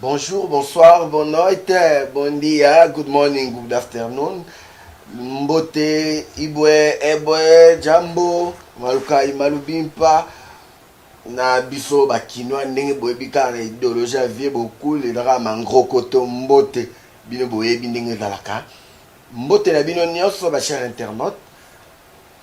Bonjour, bonsoir, bonne noite, bon dia, good morning, good afternoon. Mbote, ibwe, ebwe, jambo, malukai, malubimpa. na biso bakinois ndenge boyebi kaka na idéologie ya vie bokul ezalaka mangroko to mbote bino boyebi ndenge ezalaka mbote na bino nyonso bachere internaute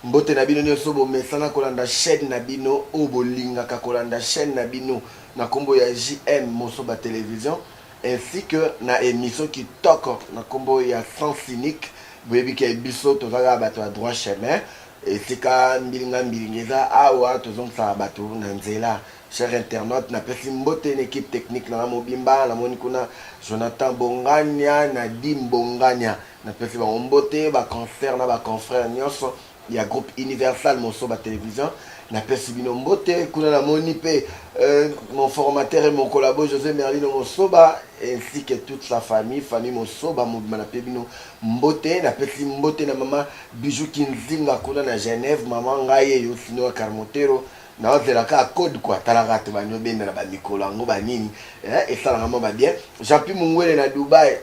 Mbote na bino nioso bomesana kolanda chaine na bino oyo bolingaka kolanda chaine na bino na kombo ya JM Mosoba Television ainsi que na emission kitoko na kombo ya sens unique boyebi ke biso toza kaka batu ya droit chemin esika mbilinga mbilinga eza awa tozongisaka batu na nzela cher internaute na pesi mbote na equipe technique na nga mobimba na moni kuna Jonathan Bongania na Dim Bongania Na pesi bango mbote ba concerts na ba confrères nionso ya groupe Universal Mosoba Television. Na pesi bino mbote. Kuna na moni pe euh, mon formateur et mon collabo Jose Merlino Mosoba ainsi que toute sa famille, famille Mosoba mobima na pe bino mbote. Na pesi mbote na mama Bijou Kinzinga kuna na Genève, mama ngai ye yo Sinoa Carmotero. Naozela kaka code quoi, tala kaka tobandi obenda na ba mikolo yango ba nini eh, esalaka mwa ba bien. Jean-Pi Mungwele na Dubai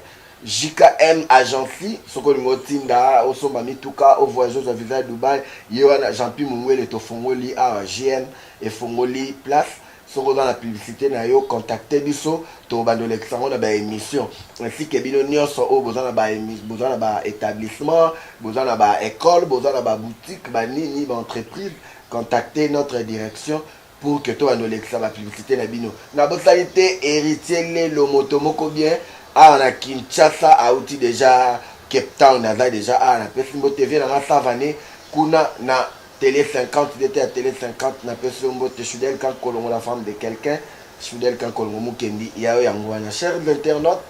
JKM Agency soki olingi otinda osomba mituka o voyage ozwa visa ya Dubai ye wana Jeanpy Mungwele tofongoli awa GM efongoli place soki oza na publicite na yo contacte biso tokobanda olekisa yango na ba emission ainsi que bino nionso oyo boza na ba boza na ba etablissement boza na ba ecole boza na ba boutique ba nini ba entreprise contacte notre direction Pour que to banda olekisa ba publicite na bino na bosani te heritier lelo moto moko bien awa na Kinshasa auti deja Cape Town aza deja awa na pesi mbote vie na nga savane kuna na tele 50 dete ya tele 50 na pesi yo mbote Shudel Kankolongo la femme de quelqu'un Shudel Kankolongo mukendi yayo yango wana chers internautes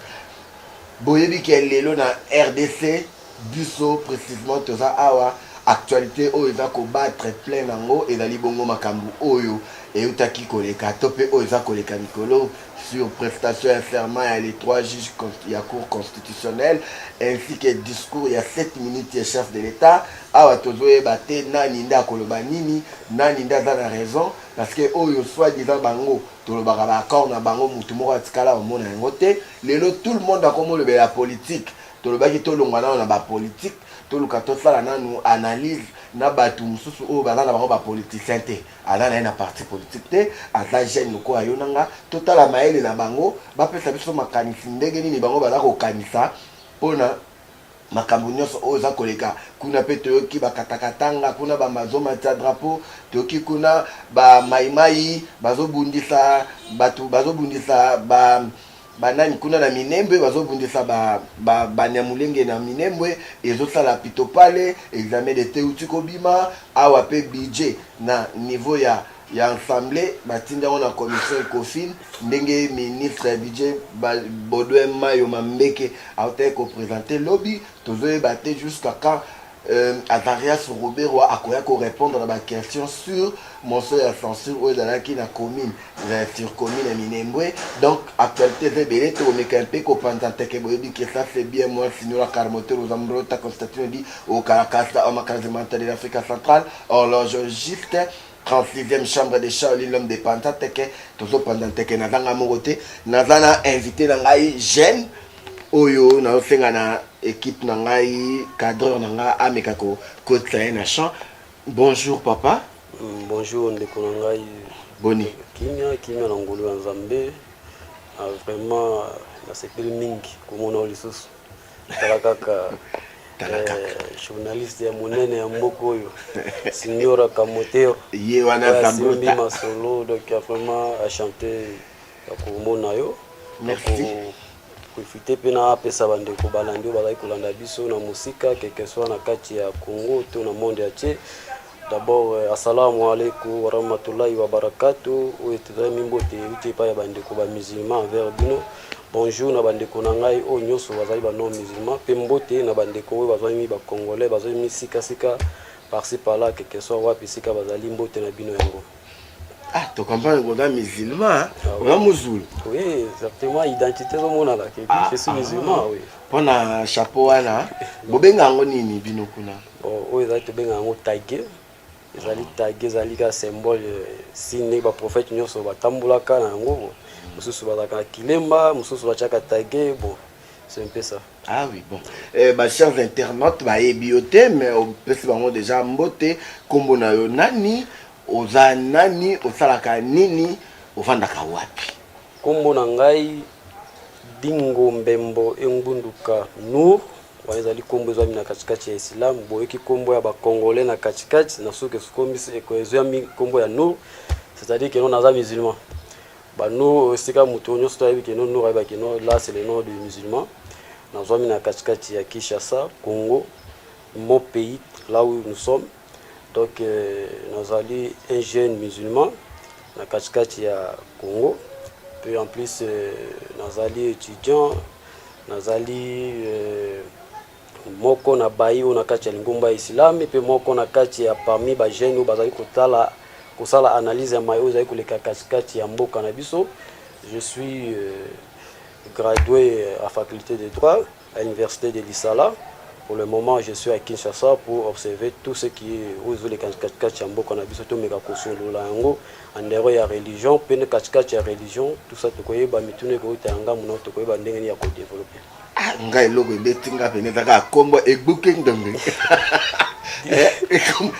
boyebi ke lelo na RDC Biso precisement toza awa actualite oyo eza ko battre plein nango ezali bongo makambu oyo eutaki koleka to pe oyo eza koleka mikolo sur prestation ya serment ya les trois juges ya cour constitutionnelle ainsi que discours ya 7 minutes ya chef de l'etat. Awa tozoyeba te nani nde akoloba nini, nani nde aza na raison parce que oyo soit disant bango tolobaka ba accord na bango mutu moko atikala omona yango te. Lelo tout le monde akomolobela politique. Tolobaki tolongwa nano na ba politique, toluka tosala nanu analyse na batu mususu oyo baza na bango ba politiciens te. Aza na ye na parti politique te, aza jeune lokola yo na nga. Totala mayele na bango, bapesa biso makanisi ndenge nini bango baza kokanisa pona makambo nionso oyo eza koleka kuna. Pe toyoki ba Katakatanga kuna, ba mazo matia drapeau, toyoki kuna ba Maï-Maï bazo bundisa batu, bazo bundisa ba banani kuna na minembwe bazobundisa banyamulenge ba, ba na minembwe ezosala pitopale examen de te uti kobima awa mpe budget na niveau ya ya ensemble batindi yango na commission ecofine ndenge ministre ya budget baudouin mayo mambeke autaki kopresente lobi tozoyeba te jusqu'à quand Euh, Azarias Ruberwa akoya ko répondre na ba questions sur motion ya censure oyo ezalaki na commune euh, sur commune ya Minembwe donc actualité eza ebele tokomeka mpe kopanza nteke boyebi que ça c'est bien moi signora Carmotel oza mbrota Constantino di okalakasa omakazimanta de l'Africa centrale horlogiste 39e chambre de Charlie l'homme de Panta teke tozo panda teke na zanga moko te na zana invité na ngai jeune oyo na osenga na équipe na ngai cadreur na ngai ameka ko kotisa ye na champ bonjour papa mm, bonjour ndeko na ngai boni kimia kimia na ngolu ya nzambe ah, vraiment nasepeli mingi komona yo lisusu tala kaka tala kaka eh, journaliste ya monene ya mboka oyo signora kamotero ye wana zambi masolo donc ya vraiment achante ya komona yo koefite mpe na apesa bandeko balandi oyo bazali kolanda biso na mosika keke swa na kati ya congo to na monde ya tie D'abord assalamu alaikum wa rahmatullahi wa barakatuh oyo tozali mimbote euti epai ya bandeko ba musulman envers bino bonjour na bandeko na ngai oyo nyonso bazali ba non musulman mpe mbote na bandeko oyo bazali mi bacongolais bazali mi sikasika parci parla quelque soit wapi sika bazali mbote na bino yango Ah, tu comprends que oza musulman oza mozulu oui exactement identité ezomonana que je suis musulman oui mpo na chapeau wana bobenga yango nini bino kuna Bon, oyo ezali tobenga yango tage ezali tage ezali kaka symbole signe ndenge baprofete nyonso batambolaka na yango bo mosusu bazalaka na kilemba mosusu batiaka tage bo c'est un peu ça Ah oui, bon. Eh, ba chers internautes, ba ebiote, mais on peut se bango déjà mbote, kombo na yo nani, oza nani, osalaka nini, ofandaka wapi. Kombo na ngai Dingo Mbembo Engbunduka Nour. Wana ezali kombo ezwami na katikati ya Islam, boyoki kombo ya ba Congolais na katikati na suka esukomisi eko ezwami kombo ya Nour, c'est-à-dire que non naza musulman. Ba Nour esika moto nyonso to ayebi que non Nour ayeba que non là c'est le nom du musulman. Nazwami na katikati ya Kinshasa, Congo, mon pays là où nous sommes. Donc euh, nazali un jeune musulman na katikati ya Congo puis en plus euh, nazali étudiant nazali euh, moko na bayi oyo na kati ya lingomba ya islami mpe moko na kati ya parmi bajeune oyo bazali kotala kosala analyse ya mai oyo ezali koleka katikati ya mboka na biso je suis euh, gradué à faculté de droit à l'université de Lisala. Pour le moment, je suis à Kinshasa pour observer tout ce qui est aux les kachikachi ya mboka na biso tomeka kosolola yango andero ya religion mpe nde kachikachi ya religion tout ça tokoyeba mituna ekouta ya ngambo na tokoyeba ndenge nini ya kodeveloppe ah, ngai eloko ebeti nga pene ezaka akombo egbuki ndonge eh,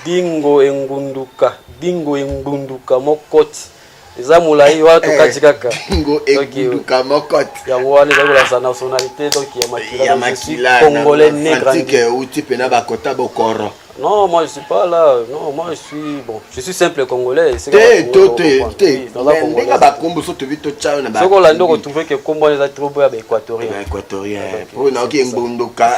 dingo engunduka dingo engunduka mokoti eza molai wana tokati eh, kaka ngo egunduka mokote yango wana ezali kolakisa nationalité donc ya makila ya makila congolais né grandi euti mpe na bakota bokoro Non, moi je suis pas là. Non, moi je suis bon, je suis simple congolais. Te to te te. Ndinga ba kombo so to vito chao na ba. Soko la ndoko trouver que kombo les a trouver ba équatorien. Ba équatorien. Pour na oki mbondoka.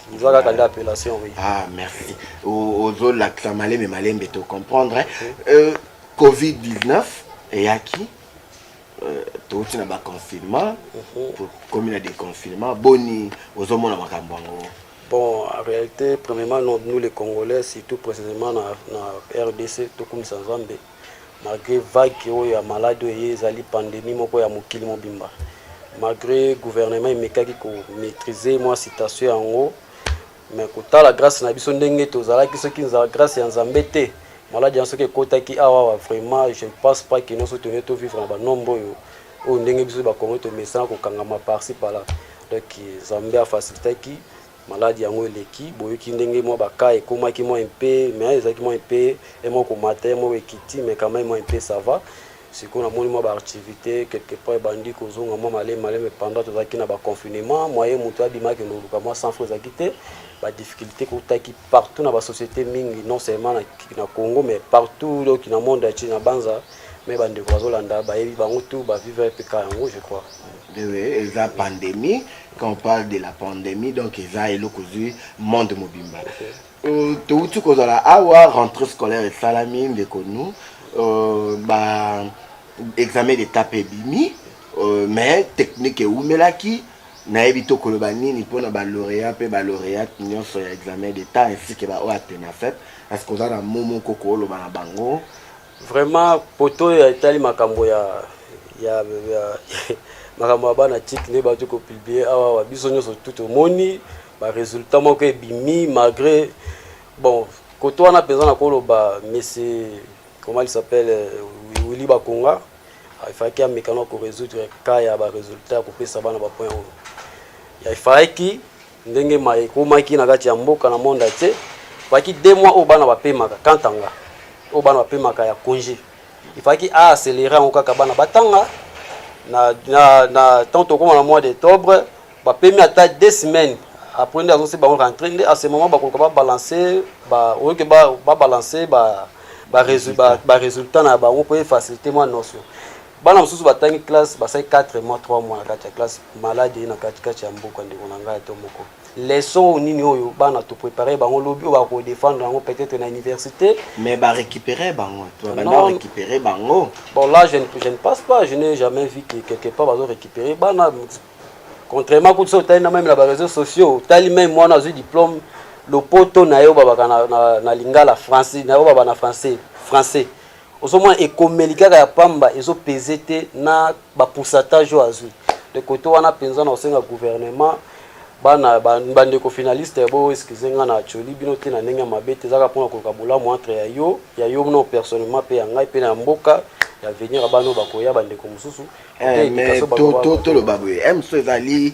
oza kaka nde appellation oui ah merci ozolakisa malembe malembe to comprendre euh, covid 19 eyaki euh, touti na baconfinement tokomi mhm. na déconfinement boni ozomona makambo yango bon en réalité premièrement nous les congolais surtout précisément na, na rdc tokumisa nzambe Malgre vague oyo ya maladi oyo eye ezali pandemie moko ya mokili mobimba, malgre gouvernement emekaki ko maitriser mwa situation yango, mais kotala grace na biso ndenge tozalaki soki nza grace ya Nzambe te maladi yango soki ekotaki awa awa vraiment je ne pense pas que noso tone to vivre na ba nombre oyo oyo ndenge biso ba Congolais tomesana kokangama par ci par là donc Nzambe afacilitaki Maladi yango eleki, boyoki ndenge mwa ba cas ekomaki mwa un peu, mais ezalaki mwa un peu, ye moko komata, ye moko ekiti, mais quand meme mwa un peu ça va. Sikoyo namoni mwa ba activites quelque part ebandi kozonga mwa malemi malemi, mais pendant tozalaki na ba confinement, moyen moto abima akende koluka mwa 100 francs ezalaki te. Ba difficultes ekotaki partout na ba societes mingi, non seulement na, na Congo, mais partout donc na monde entier, na Banza, mais bandeko bazolanda bayebi bango tout, ba vivre mpe cas yango je crois. Eza pandemie, quand on parle de la pandémie donc eza eloko ozwi monde mobimba euh, touti kozala awa rentrée scolaire esalami ndeko nu euh, ba examen d'état mpe ebimi euh, mais technique eumelaki nayebi to koloba nini mpo na balauréat mpe balauréate nyonso ya examen d'état ainsi ke baoyo atenafep parce que oza na mo moko kooloba na bango Vraiment poto oyo etali makambo ya ya, ya makambo ya bana tike nde bato kopublie awa wa biso nyonso tu tomoni baresultat moko ebimi malgré bon koto wana mpenza na koloba mese comment il s'appelle euh, willi bakonga efalaki amekana koresoudre cas ya baresultat ya kopesa bana bapoint oyo efalaki ndenge ma ekomaki na kati ya mboka na monde entier faki deux mois oyo bana bapemaka kantanga oyo bana bapemaka ya congé ifaki aaccélere yango kaka bana batanga na, na, na temps tokoma na mois d'octobre bapemi ata deux semaines après nde azosi bango rentre nde à ce moment bakoluka babalancer ba, oyoki babalancer ba, ba, ba, ba, ba, ba résultat na bango mpo efacilité mwa notion bana mosusu batangi classe basali 4 mois 3 mois na kati ya classe malade eye na katikati ya mboka ndeko na ngai to moko leçon nini oyo bana to préparer bango lobi oyo bakodefendre yango peut-être na université mais barécupérer bango récupérer bango bon là je ne, je ne passe pas je n'ai jamais vu que quelque part bazo récupérer bana contrairement kutu so otali na meme na baréseaux sociaux otali meme mwana azwi diplôme lopoto na ye obabaka na, na, na lingala français na ye obaba na français français ozomona ekomeli kaka ya pamba ezo peze te na ba pourcentage oyo azwi de kote wana mpenza na kosenga gouvernement bana bandeko finaliste ya bo excuse nga na acoli bino te na ndenge ya mabe te ezaka mpona koluka bolamu entre ya yo ya yo no personnellement mpe ya ngai mpe na ya mboka ya venir ya bana oyo bakoya bandeko mosusu eh, toloba boye mso ezali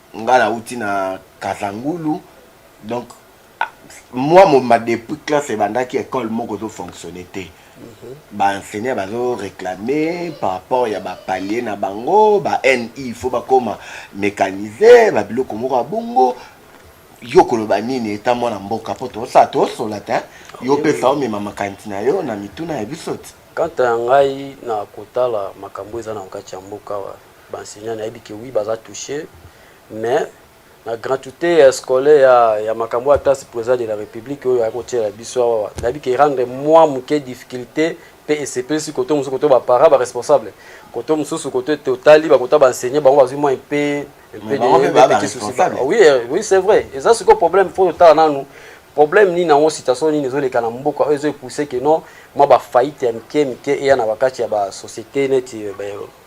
Nga na wuti na kazangulu donc moi moma depuis classe ebandaki ecole moko ezo fonctionner te mm -hmm. ba enseignants bazo réclamer par rapport ya ba palier na bango ba NI il faut bakoma mécaniser ba biloko moko ya bongo yo koloba nini eta mwana mboka mpo tosa tosola te yo pesa omema makanisi na yo na mituna ya biso ti kanta ya ngai na kotala makambo eza na kati ya mboka wa Ba enseignants nayebi que oui baza touche mais na gratuité ya scolaire ya, ya makambo ya classe président de la république oyo akotyela biso awa nayebi ke erendre mwa moke difficulté mpe esepelisi koto mosusu koto baparent baresponsable koto mosusu koto ete otali bakota baenseigne bango bazwi mwa mpe oui eh, oui c'est vrai eza sikoyo problème fo totala nanu problème nini yango situation nini ezoleka na mboka oyo ezoepousse ke non mwa bafaillite ya mike mike eya na bakati ya basociété neti eh,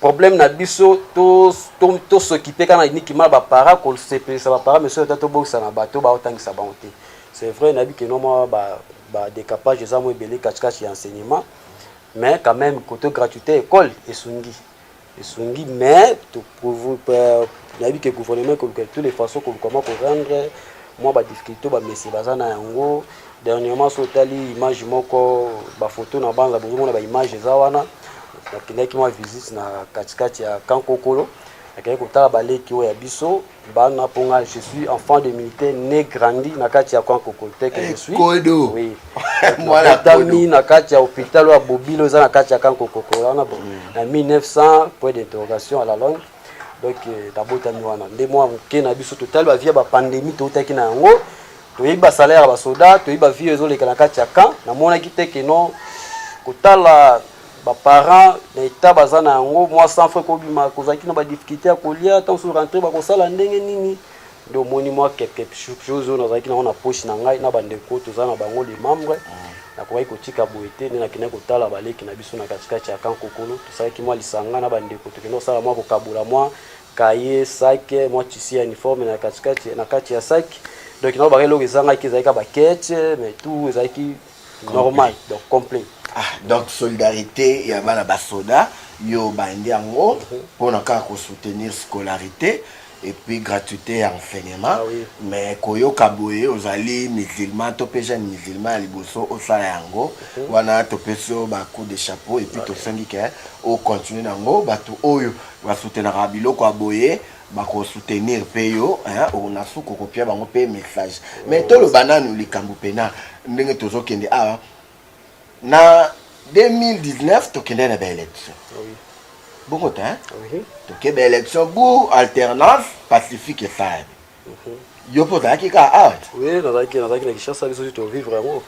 Problème na biso to to to s'occuper kana niki mal ba para ko se pesa ba para monsieur to bokisa na bato ba otangisa bango te. C'est vrai na biki no mwa ba ba décapage eza mo ebele kati kati ya enseignement mais quand même koto gratuité école esungi esungi mais to na biki gouvernement ko tous les façons ko comment ko rendre mwa ba difficultés ba messe baza na yango Dernièrement so otali image moko ba photo na banza bozo mona ba image eza wana nakendaki mwa visite na katikati ya Kankokolo akendaki kotala baleki oyo ya biso bana mpo nga je suis enfant de militaire ne grandi na kati ya camp kokolte que je suis kodo oui mwana tami na kati ya hôpital ya bobilo eza na kati ya camp kokokola wana bon na 1900 point d'interrogation à la longue donc nabotami wana nde mwa moke na biso totali bavia bapandemie toutaki na yango toyebi ba salaire ya basoda toyebi ba vie ezoleka na kati ya camp namonaki te ke non kotala baparent na etat baza na yango mwa sans frais kobima kozalaki na badifficulté ya kolia ntango soki rentre bakosala ndenge nini nde omoni mwa quelque chose oyo nazalaki nango na poche na ngai na bandeko toza na bango le membre nakokaki kotika boye te nde nakendaki kotala baleki na biso na katikati ya kankokolo tosalaki mwa lisanga na bandeko tokenda kosala mwa kokabola mwa kaye, sac, mwa tissu ya uniforme na katikati na kati ya sac donc nao baka eloko ezangaki ezalaki ka bakete mais tout ezalaki normal donc complet ah, donc solidarité ya bana basoda yo obandi yango mhm. mpona kaka kosoutenir scolarité et puis gratuité ya enseignement ah, oui. mais koyoka boye ozali musulman to mpe jeune musulman ya liboso osala yango okay. Mhm. wana topesi yo bacoup de chapeau et puis okay. tosengi ke ocontinue na yango bato oyo ba soutenaka biloko ya boye bako soutenir pe yo ona suka okopia bango pe message mais toloba nanu likambo pena ndenge tozokende awa na 2019 tokendai na baélection bongo te toke baélection bu alternance pacifique esalami yo mpe ozalaki kaka awa oui nazalaki nazalaki na kinshasa biso to vivre yango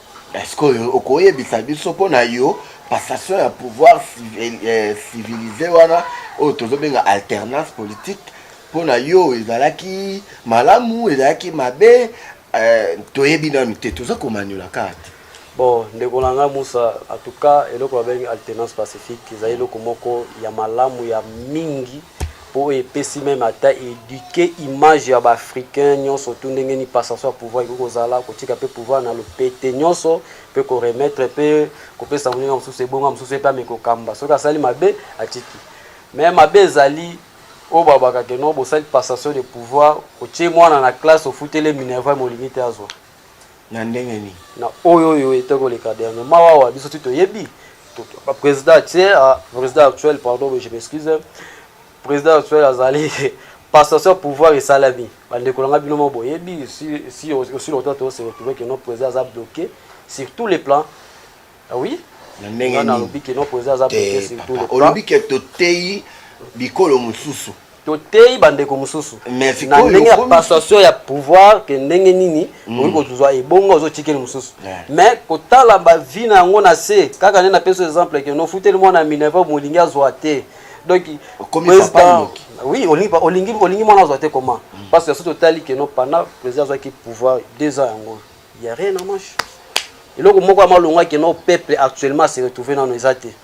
sikoyo okoyebisa biso mpo na yo passation ya pouvoir eh, civilisé wana oyo tozobenga alternance politique mpo na yo ezalaki malamu ezalaki mabe eh, toyebi nanu te toza komanyola kaka te Bon, ndeko na ngai Musa, en tout cas eloko babengi alternance pacifique ezali eloko moko ya malamu ya mingi mpo oyo epesi meme ata eduke image ya baafricain nyonso tu ndenge ni passation ya pouvoir ekoki kozala kotika mpe pouvoir na lopete nyonso mpe koremettre mpe kopesa moninga mosusu ebonga mosusu ye mpe ameki kokamba soki asali mabe atiki me mabe ezali oyo babakake no bosali passation de pouvoir otie mwana na classe ofutele minerval molingi te azwa na ndenge nini na oyo oyo ete koleka dernier mawa awa biso ti toyebi président actuel ah, président actuel pardon je m'excuse président actuel azali passation pouvoir esalami bandeko na ngai bino moko boyebi si aussi longtemps tose retrouve que non président aza bloqué sur tous les plans Ah oui na ndenge nalobi ke noko eza aza pete surtout olobi ke toteyi bikolo mosusu toteyi bandeko mosusu na ndenge ya passation ya pouvoir ke ndenge nini mm. okoki kozwa ebongo ozotikeli mosusu mais kotala bavi na yango na se kaka nde napesi exemple ke nofuteli mwana minerva molingi azwa te donc président oui olingi olingi olingi mwana azwa te comment mm. parce que soki totali ke no pendant président azwaki pouvoir deux ans yango Il y a rien en marche. Eloko moko ya malonga que nos peuples actuellement se retrouver dans nos athées.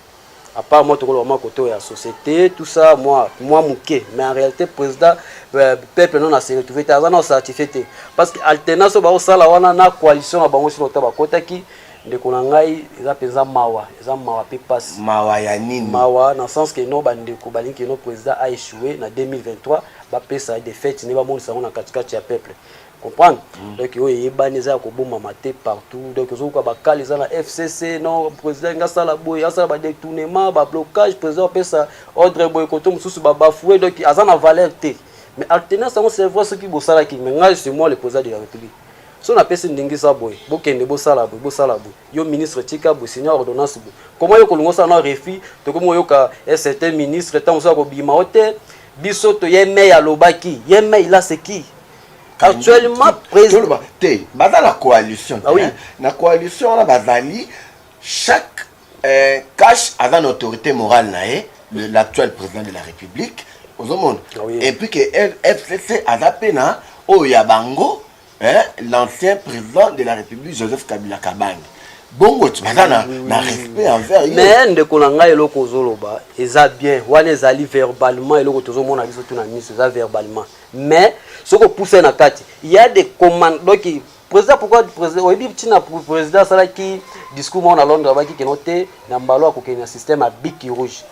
À part moi, tout le monde côté la société, tout ça, moi, moi mouké. Mais en réalité, président, euh, peuple non a se retrouver. T'as un certifié parce que alternance au sala wana na coalition à bango sur le tabac kota qui ndeko na ngai eza mpenza mawa eza mawa mpe mpasi mawa ya nini mawa na sens ke no bandeko balingi keno président a échoué na 2023 bapesa ye defete nde bamonisa yango na katikati ya peuple comprendre mm. donc oyo eyebani eza ya kobomama te partout donc ozokoka bakale eza na fcc non président enga asala boye asala badetournement bablocage président apesa ordre boye koto mosusu babafoue donc aza na valeur te mais altenance yango c'est vrai soki bosalaki mais ngai c'est moi le président de la république so napesi ndingisa boye bokende bosala boye bosala boye yo ministre tika boye signa ordonnance boye koma yo kolinga osala na refus tokomi oyoka eh, certain ministre ntango mosusu akobima o te biso toye mei alobaki ye mei la c'est qui actuellement président te baza na coalition ah, oui. na coalition wana bazali chaque euh, cash aza na autorité morale na ye l'actuel président de la république ozomona ah, oui. et puis que fcc aza mpe na oyo ya bango hein, l'ancien président de la république joseph kabila kabange bongo ti baza na, na respect envers ye mais ndeko na ngai eloko ozoloba eza bien wana ezali verbalement eloko tozomona biso to na miso eza verbalement mais soki opusa ye na kati ya de commande donc président pourquoi président oyebi ntina président asalaki discours moko na londres abaki keno te na mbalo akokende na système ya biki rouge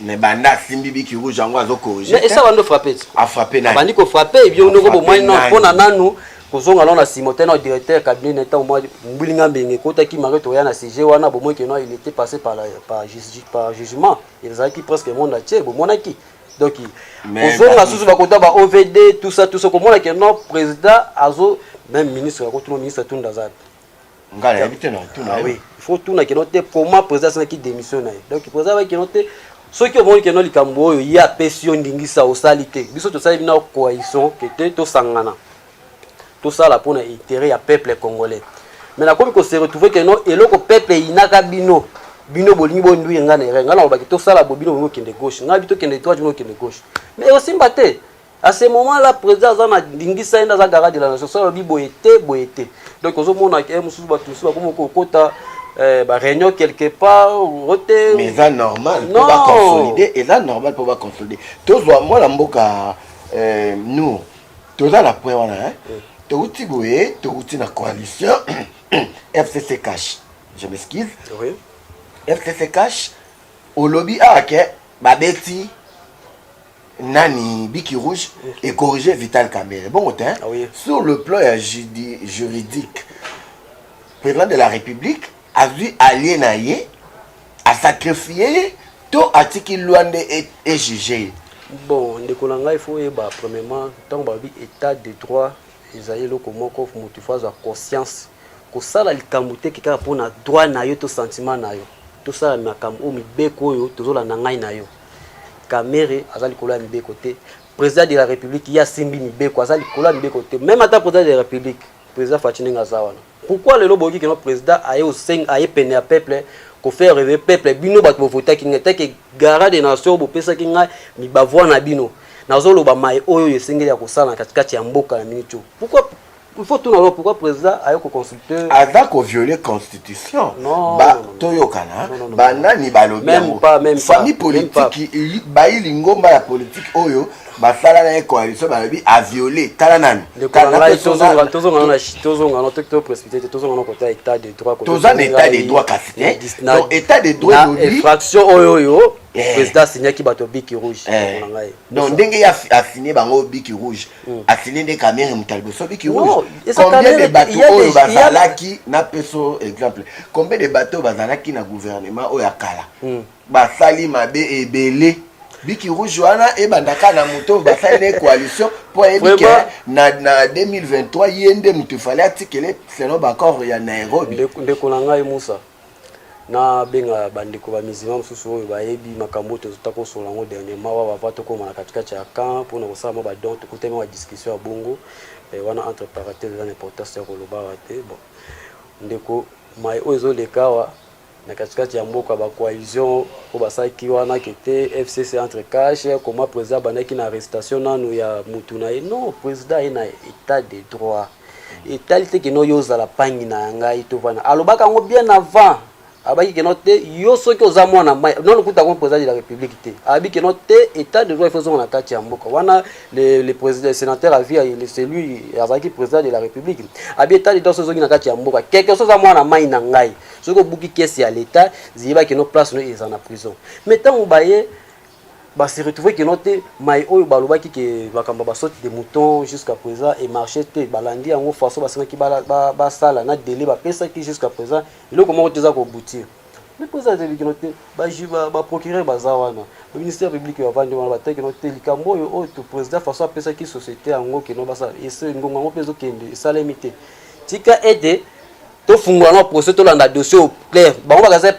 mais banda asimbi biki rouge yango azokorige esa bando frappe afrappe ah, abandi kofrappe ebio ndoko bomwani no mpo na nanu kozonga no na nsima te na directeur cabinet na ntango mwa mbilinga mbenge ekotaki mario toya na sujet wana bomoi keno il était passé par, la, par, par jugement ezalaki presque monde atie bomonaki donc kozonga susu bakota ba ovd tout ça tout ça komona ke non président azo même ministre akotuna ministre atunda aza ngai nayebi te natuna ah oui il faut tuna keno te comment président asalaki démission na ye donc président abaki keno te soki omoni keno likambo oyo ye apesi yo ndingisa osali te biso tosali bino coalition ke te tosangana tosala mpo na interet ya peuple congolais mais nakomi ko se retrouver que non eloko peuple eyinaka bino bino bolingi bonduire ngai na erreur ngai nalobaki tosala bo bino bolingi okende gauche ngai tokende droite bino okende gauche mais ekosimba te à ce moment là président aza na ndingisa ye nde aza garant de la nation so alobi boye te boye te donc ozomona ke mosusu bato mosusu bakomi kokota eh, ba réunion quelque part ote mais eza normal mpo baconsolide eza normal mpo baconsolide tozwa mwana mboka eh, nour toza na point wana hein mm. towuti boye towuti na coalition fcc cash je m'excuse oui. fcc cash olobi awa ah, ke babeti nani biki rouge mm. et corriger vital kamere bongo te ah, oui. sur le plan ya juridique président de la république azwi allie na ye asacrifie ye to atiki loi nde ejuge ye bon ndeko na ngai faut oyeba premièrement ntango balobi état de droit ezali eloko moko moto ifo azwa conscience kosala likambo te kekaka mpo na droit na yo to sentiment na yo tosala makambo oyo mibeko oyo tozolanda ngai na yo kamere aza likolo ya mibeko te président de la république ye asimbi mibeko aza likolo ya mibeko te même ata président de la république président faci ndenge aza wana Pourquoi lelo boyoki kino président aye oseng aye pene ya peuple ko faire rêver peuple bino bato bovotaki ngai teke gara de nation bopesaki ngai mibavoi na bino nazoloba mai oyo oyo esengeli ya kosala na katikati ya mboka na miniti oyo pourquoi il faut tuna lelo pourquoi président aye koconsulte aza koviole constitution toyokana banani balobi yango famille politiki bayi lingomba ya politiki oyo basala na ye coalition balobi aviole tala nani toza na état de droit kasi te donc état de droit infraction oyo oyo eh. président asignaki bato biki rouge eh. donc ndenge ye asigne bango biki rouge hmm. asigne nde kamere moto ya liboso biki rouge combien de bato oyo bazalaki na peso exemple combien de bato oyo bazalaki na gouvernement oyo ya kala hmm. basali mabe ebele biki rouge wana ebandaka na moto oyo basali na coalition mpo ayebi ke na, na 2023 ye nde moto efale atikele selon baccord ya nairobi ndeko na ngai musa nabenga bandeko bamizima mosusu oyo bayebi makambo oyo tozota kosola yango dernièrement wa bava tokóma na katikati ya camp mpona kosala mwa badon tokutami mwa discussion ya bongo eh, wana entre parenthèse eza na importance ya koloba awa te bon ndeko mai oyo ezoleka awa na katikati ya mboka ba coalition oyo basalaki wana kete fcc entre cash koma président abandaki na arrestation nanu ya mutu na ye non président aye na état de droit etali te keno yo ozala pangi na ya ngai tovana alobaka yango bien avant abaki keno te yo soki oza mwana mai nono kuta ko président de la république te abi keno te état de droit ifozonga na kati ya mboka wana le, le président sénateur à vie le celui azalaki président de la république abi état de droit sozongi na kati ya mboka quelque chose oza mwana mai na ngai soki obuki kesi ya leta ziyeba kino place no eza na prison mais ntango baye base retrouve kino te mai oyo balobaki ke makambo ya basote de mouton jusqu'à présent emarche te balandi yango façon basengaki basala na délai bapesaki jusqu'à présent eloko moko te eza kobutir mais mpo eza kino te baprocureur baza wana ministère public bavandi wana bataki kino te likambo oyo oyo président façon apesaki société yango kino basala ngonga yango mpe ezokende esalemi te tika ete tofungola no procès tolanda dossier au clair bango bakaza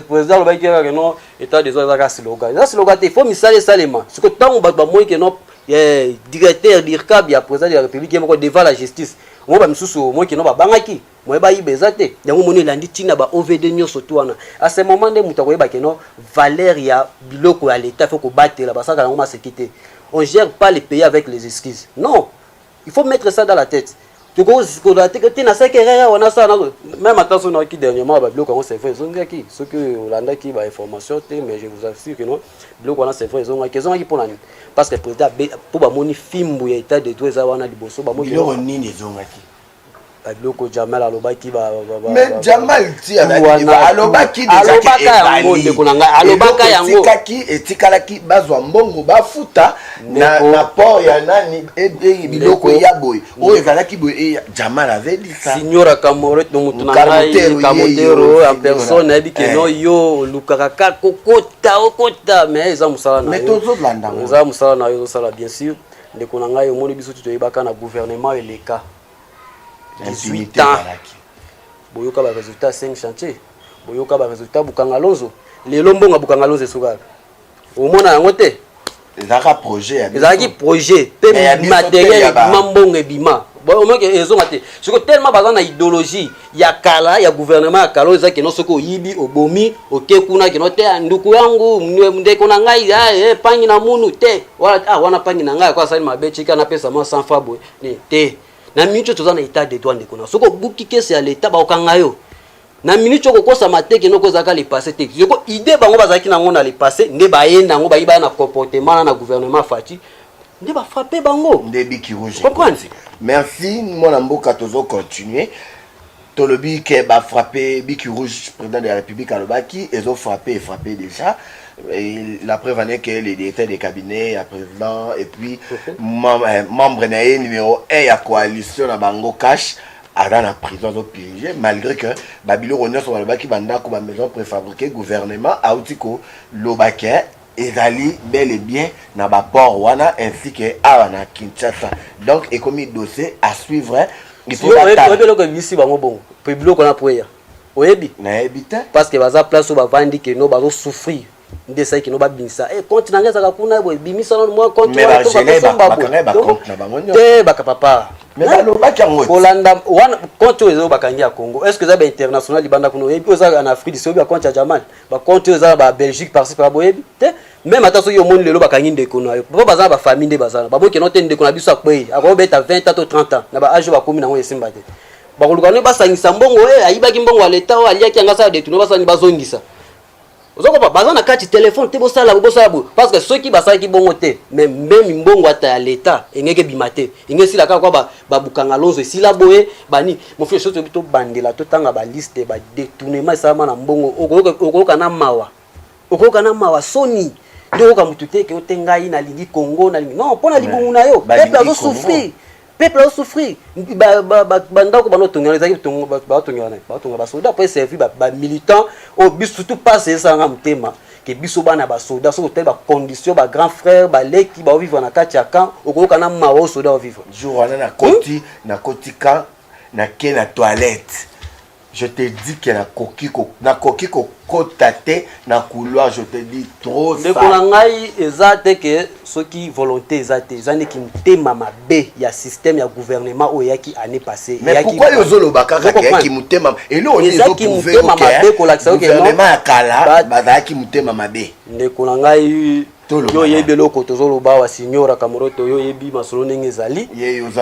président alobaki kaka ke non état des ordres ezaka siloga eza siloga te faut misala esalema siko ntango bato bamoni ke non eh, directeur dircab ya président de la république ye moko devant la justice yango bamisusu omoni ke non babangaki moye bayiba eza te yango moni elandi ntina ba ovd nyonso tu wana a ce moment nde moto akoyeba ke non valeur ya biloko ya leta fo kobatela basalaka yango maseki te on gère pas le pays avec les excuses non il faut mettre ça dans la tête tokozikola te te nasalaki erreur awa nasala nazo meme ata so nayoki dernièrement babiloko yango c'est vrai ezongaki soki olandaki ba information te mais je vous assure que non biloko wana c'est vrai ezongaki ezongaki mpo na nini parce que président mpo bamoni fimbu ya état de droit eza wana liboso bamoni biloko nini ezongaki Badoko Jamal alobaki ba ba ba. Mais Jamal ti alobaki alobaki déjà que yango ndeko na ngai alobaka yango etikaki etikalaki bazwa mbongo bafuta na na port ya nani e, e, biloko ya boye oyo ezalaki boye e, Jamal avait dit ça Signora Kamoret no mutu na ngai Kamotero en personne ayebi que eh. non yo olukaka ka kokota okota mais eza musala na yo mais tozolanda eza musala na yo ozosala bien sûr Ndeko na ngai omoni biso toyebaka na gouvernement eleka 18 ans boyoka ba résultat 5 chantier boyoka ba résultat bukanga lonzo lelo mbongo bukanga lonzo esukaka omona yango te ezalaka projet ya ezalaki projet mpe materiel ebima mbongo ebima omoke ezonga te siko tellement baza na idéologie ya kala ya gouvernement ya kala oyo eza keno soki oyibi obomi oke kuna keno te ah, nduku yangu ndeko na ngai ah, eh, pangi na munu te wala ah, wana pangi na ngai ako asali mabe tika napesa mwa sans fa boye te na minute oyo toza na etat de droit ndeko na soki obuki kesi ya leta bakokanga yo na minute oyo kokosama te keno oyo ezalaka lepasse te yoko idée bango bazalaki nango na lepasse nde baye nango bayibaya na comportement na na gouvernement fati nde ba frapper bango nde biki rouge comprendre merci mwana mboka tozo continuer tolobi ke ba frapper biki rouge président de la république alobaki ezo frapper et frapper déjà Et la preuve en est que les directeurs des cabinets ya président et puis mem- eh, membre na ye numéro 1 ya coalition na bango cash aza na prison azo purge malgré que babiloko nyonso balobaki bandako bamaison préfabriqué gouvernement auti koloba ke ezali bel et bien na ba port wana ainsi que awa na Kinshasa donc ekomi dossier à suivre oyebi eloko ebisi bango bongo mpe biloko na poeya oyebi nayebi te parce que baza place oyo bavandi keno bazo souffrir nde esali keno babimisa e compte na ngai ezalaka kuna boye bimisa nano mwa compte te baka papa kolanda wana compte oyo ezo bakangi ya congo est ce que eza bainternational libanda kuna oyebi oyo eza na afrique du sud oyebi ya compte ya jamal ba compte oyo eza na ba belgique parci pala boyebi te meme ata soki omoni lelo bakangi ndeko na yo po baza na bafamille nde baza na bamoi keno te ndeko na biso akwei akobeta 20 ans to 30 ans na ba age oyo bakomi nango esimba te bakoluka nde basangisa mbongo e eh, ayibaki mbongo ya leta oyo aliaki yango asala detune basani bazongisa ozokopa baza na kati telefone te bosala bosala boye parce que soki basalaki bongo te me meme mbongo ata ya leta engeki ebima te engesila kaka kwa babukanga lonzo esila boye bani mofi oso toyebi tobandela totanga baliste badetournement esalama na mbongo okoyoka na mawa okoyoka na mawa soni nde oyoka motu te ke ote ngai nalingi congo nalingi non mpo na libumu na yo peuple azosouffrir peuple azosouffrir bandako bana otongela ezalaki batongelana batonga basoda mpo eservi bamilitant oyo biso surtout pasi esalanga motema que biso bana ba soda soki otali ba condition ba grand frère ba leki ba vivre na kati ya camp okoyoka na mawa o soda o vivre jour wana na koti hmm? na koti camp na ke na toilette je te dis que nakoki ko nakoki kokota te na couloir je te dis trop ndeko na ngai eza te que soki volonté eza te eza nde kimutema mabe ya système ya gouvernement oyo eyaki année passée pourquoi yo ozoloba kaka ke yaki mutema eloko nini ezo prouver mutema mabe kolakisa oke gouvernement ya kala bazalaki mutema mabe ndeko na ngai yo oyebi eloko tozoloba awa signora kamuroto yo oyebi masolo ndenge ezali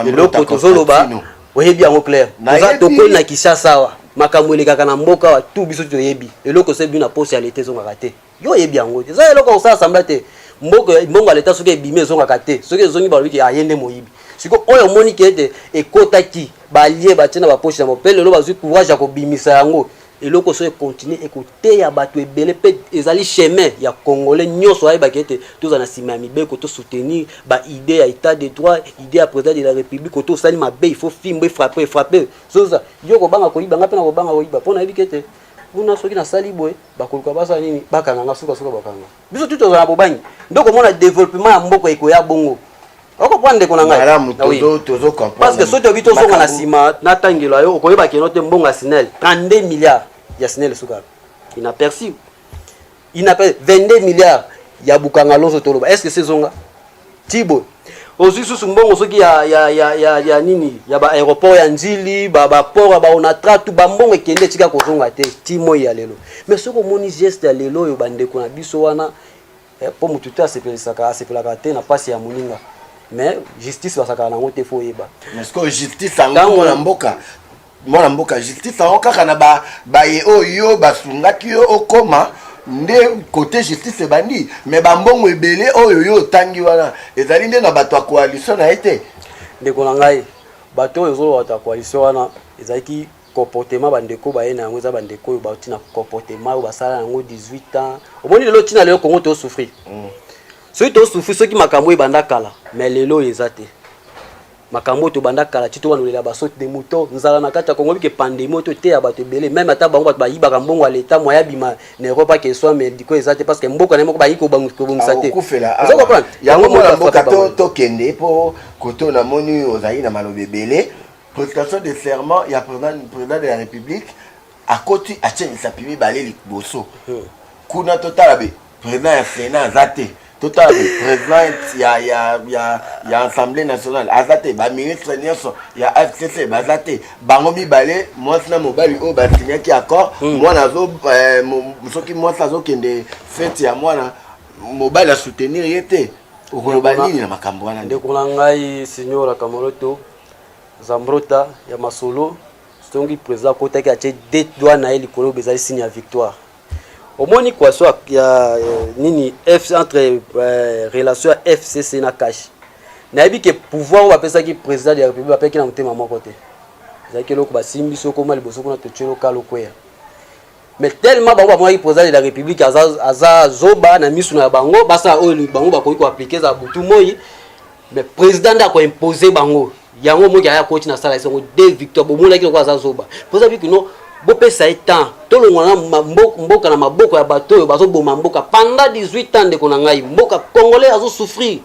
eloko tozoloba oyebi yango claire oza tokoli na kishasa awa makambo elekaka na mboka awa tu biso toyebi eloko osebi na posa ya leta ezongaka te yo oyebi yango te eza eloko kosala sambla te mboko mbongo ya leta soki ebimi ezongaka te soki ezongi balobi ke aye nde moyibi siko oyo omoni ke ete ekotaki balie batie na baposhi yango mpe lelo bazwi courage ya kobimisa yango eloko so ekontinue ekoteya bato ebele mpe ezali chemin ya congolais nyonso ayebaki ete tozala na nsima ya mibeko tosoutenir baide ya état de droit ide ya président de la république oto osali mabe il faut fimbo efrappe efrappe zoza yo kobanga koyiba ngai mpe na kobanga koyiba mpo nayebi ke ete kuna soki nasali boye bakoluka basala nini bakanga nga suka suka bakanga biso tu tozala na bobangi nde okomona développement ya mboka ekoya bongo okoprendre ndeko na ngai ah parce que soki toyebi tozonga na nsima natangela yo okoyeba keno te mbongo ya sinel 32 milliards ya sinel esukaka inaperci inaperci 22 milliards ya bukanga lonso toloba est ce que sezonga Tibo ozwi susu mbongo soki ya, ya, ya, ya, ya nini ya ba aéroport ya nzili ba ba port ya ba onatra tu ba mbongo ekende etika kozonga te ti moi ya lelo mais soki omoni geste ya lelo oyo bandeko na biso wana eh, mpo motu te asepelisaka asepelaka te na mpasi ya moninga mais justice basakaka nango te fo oyeba ntango na mboka mwana mboka justice yango kaka na ba, baye oyo basungaki yo okoma nde kote justice ebandi me bambongo ebele oyo yo otangi wana ezali nde na bato ya koalisio na ye te ndeko na ngai bato oyo ezoloba bato ya koalisio wana ezalaki comportement bandeko baye na yango eza bandeko oyo bauti na comportement oyo basala yango 18 ans omoni lelo ntina lelo kongo tosouffrir mm. soki tosouffrir soki makambo oyo ebanda kala me lelo oyo eza te makambo oyo tobanda kala ti tobanolela basote de mouton nzala na kati ya kongo bike pandemi oyo toteya bato ebele meme ata bango bato bayibaka mbongo ya leta moye abima na europe ake eswa mediko eza te parce que mboka na ye moko bayi kobongisa te yango mona mboka tokende mpo koto namoni ozali na maloba ebele prestation de serment ya président de la république akoti atie misapi mibale liboso hmm. kuna totala be président ya sénat aza te totala be président ya, ya, ya, ya assemblée nationale aza te baministre nyonso ya fcc baza te bango mibale mwasi na mobali oyo basinyaki accord hmm. mwana azo eh, soki mwasi azokende fete ya mwana mobali asoutenir ye te okoloba nini na makambo wana ndeko na ngai signora kamoloto zambrota ya masolo songi president akotaki atie de doigt na ye likolo bezali signe ya victoire omoni kwaso ya, ya euh, nini F, entre euh, relation ya fcc na cash nayebi ke pouvoir oyo bapesaki président de la république bapeki na motema moko te ezalaki eloko basimbi biso okoma liboso kuna totyelo kalo kweya mais tellement bango bamonaki président de la république aza, aza zoba na misu na bango basala oyo bango bakoki koaplike za butu moi mais président nde akoimpose bango yango moki aya koti na sala esango de victoire bomonaki lokola aza zoba président biki no bopesa ye temps tolongwa na mboka na maboko ya bato oyo bazoboma mboka pendant 18 ans ndeko na ngai mboka congolais azosouffrir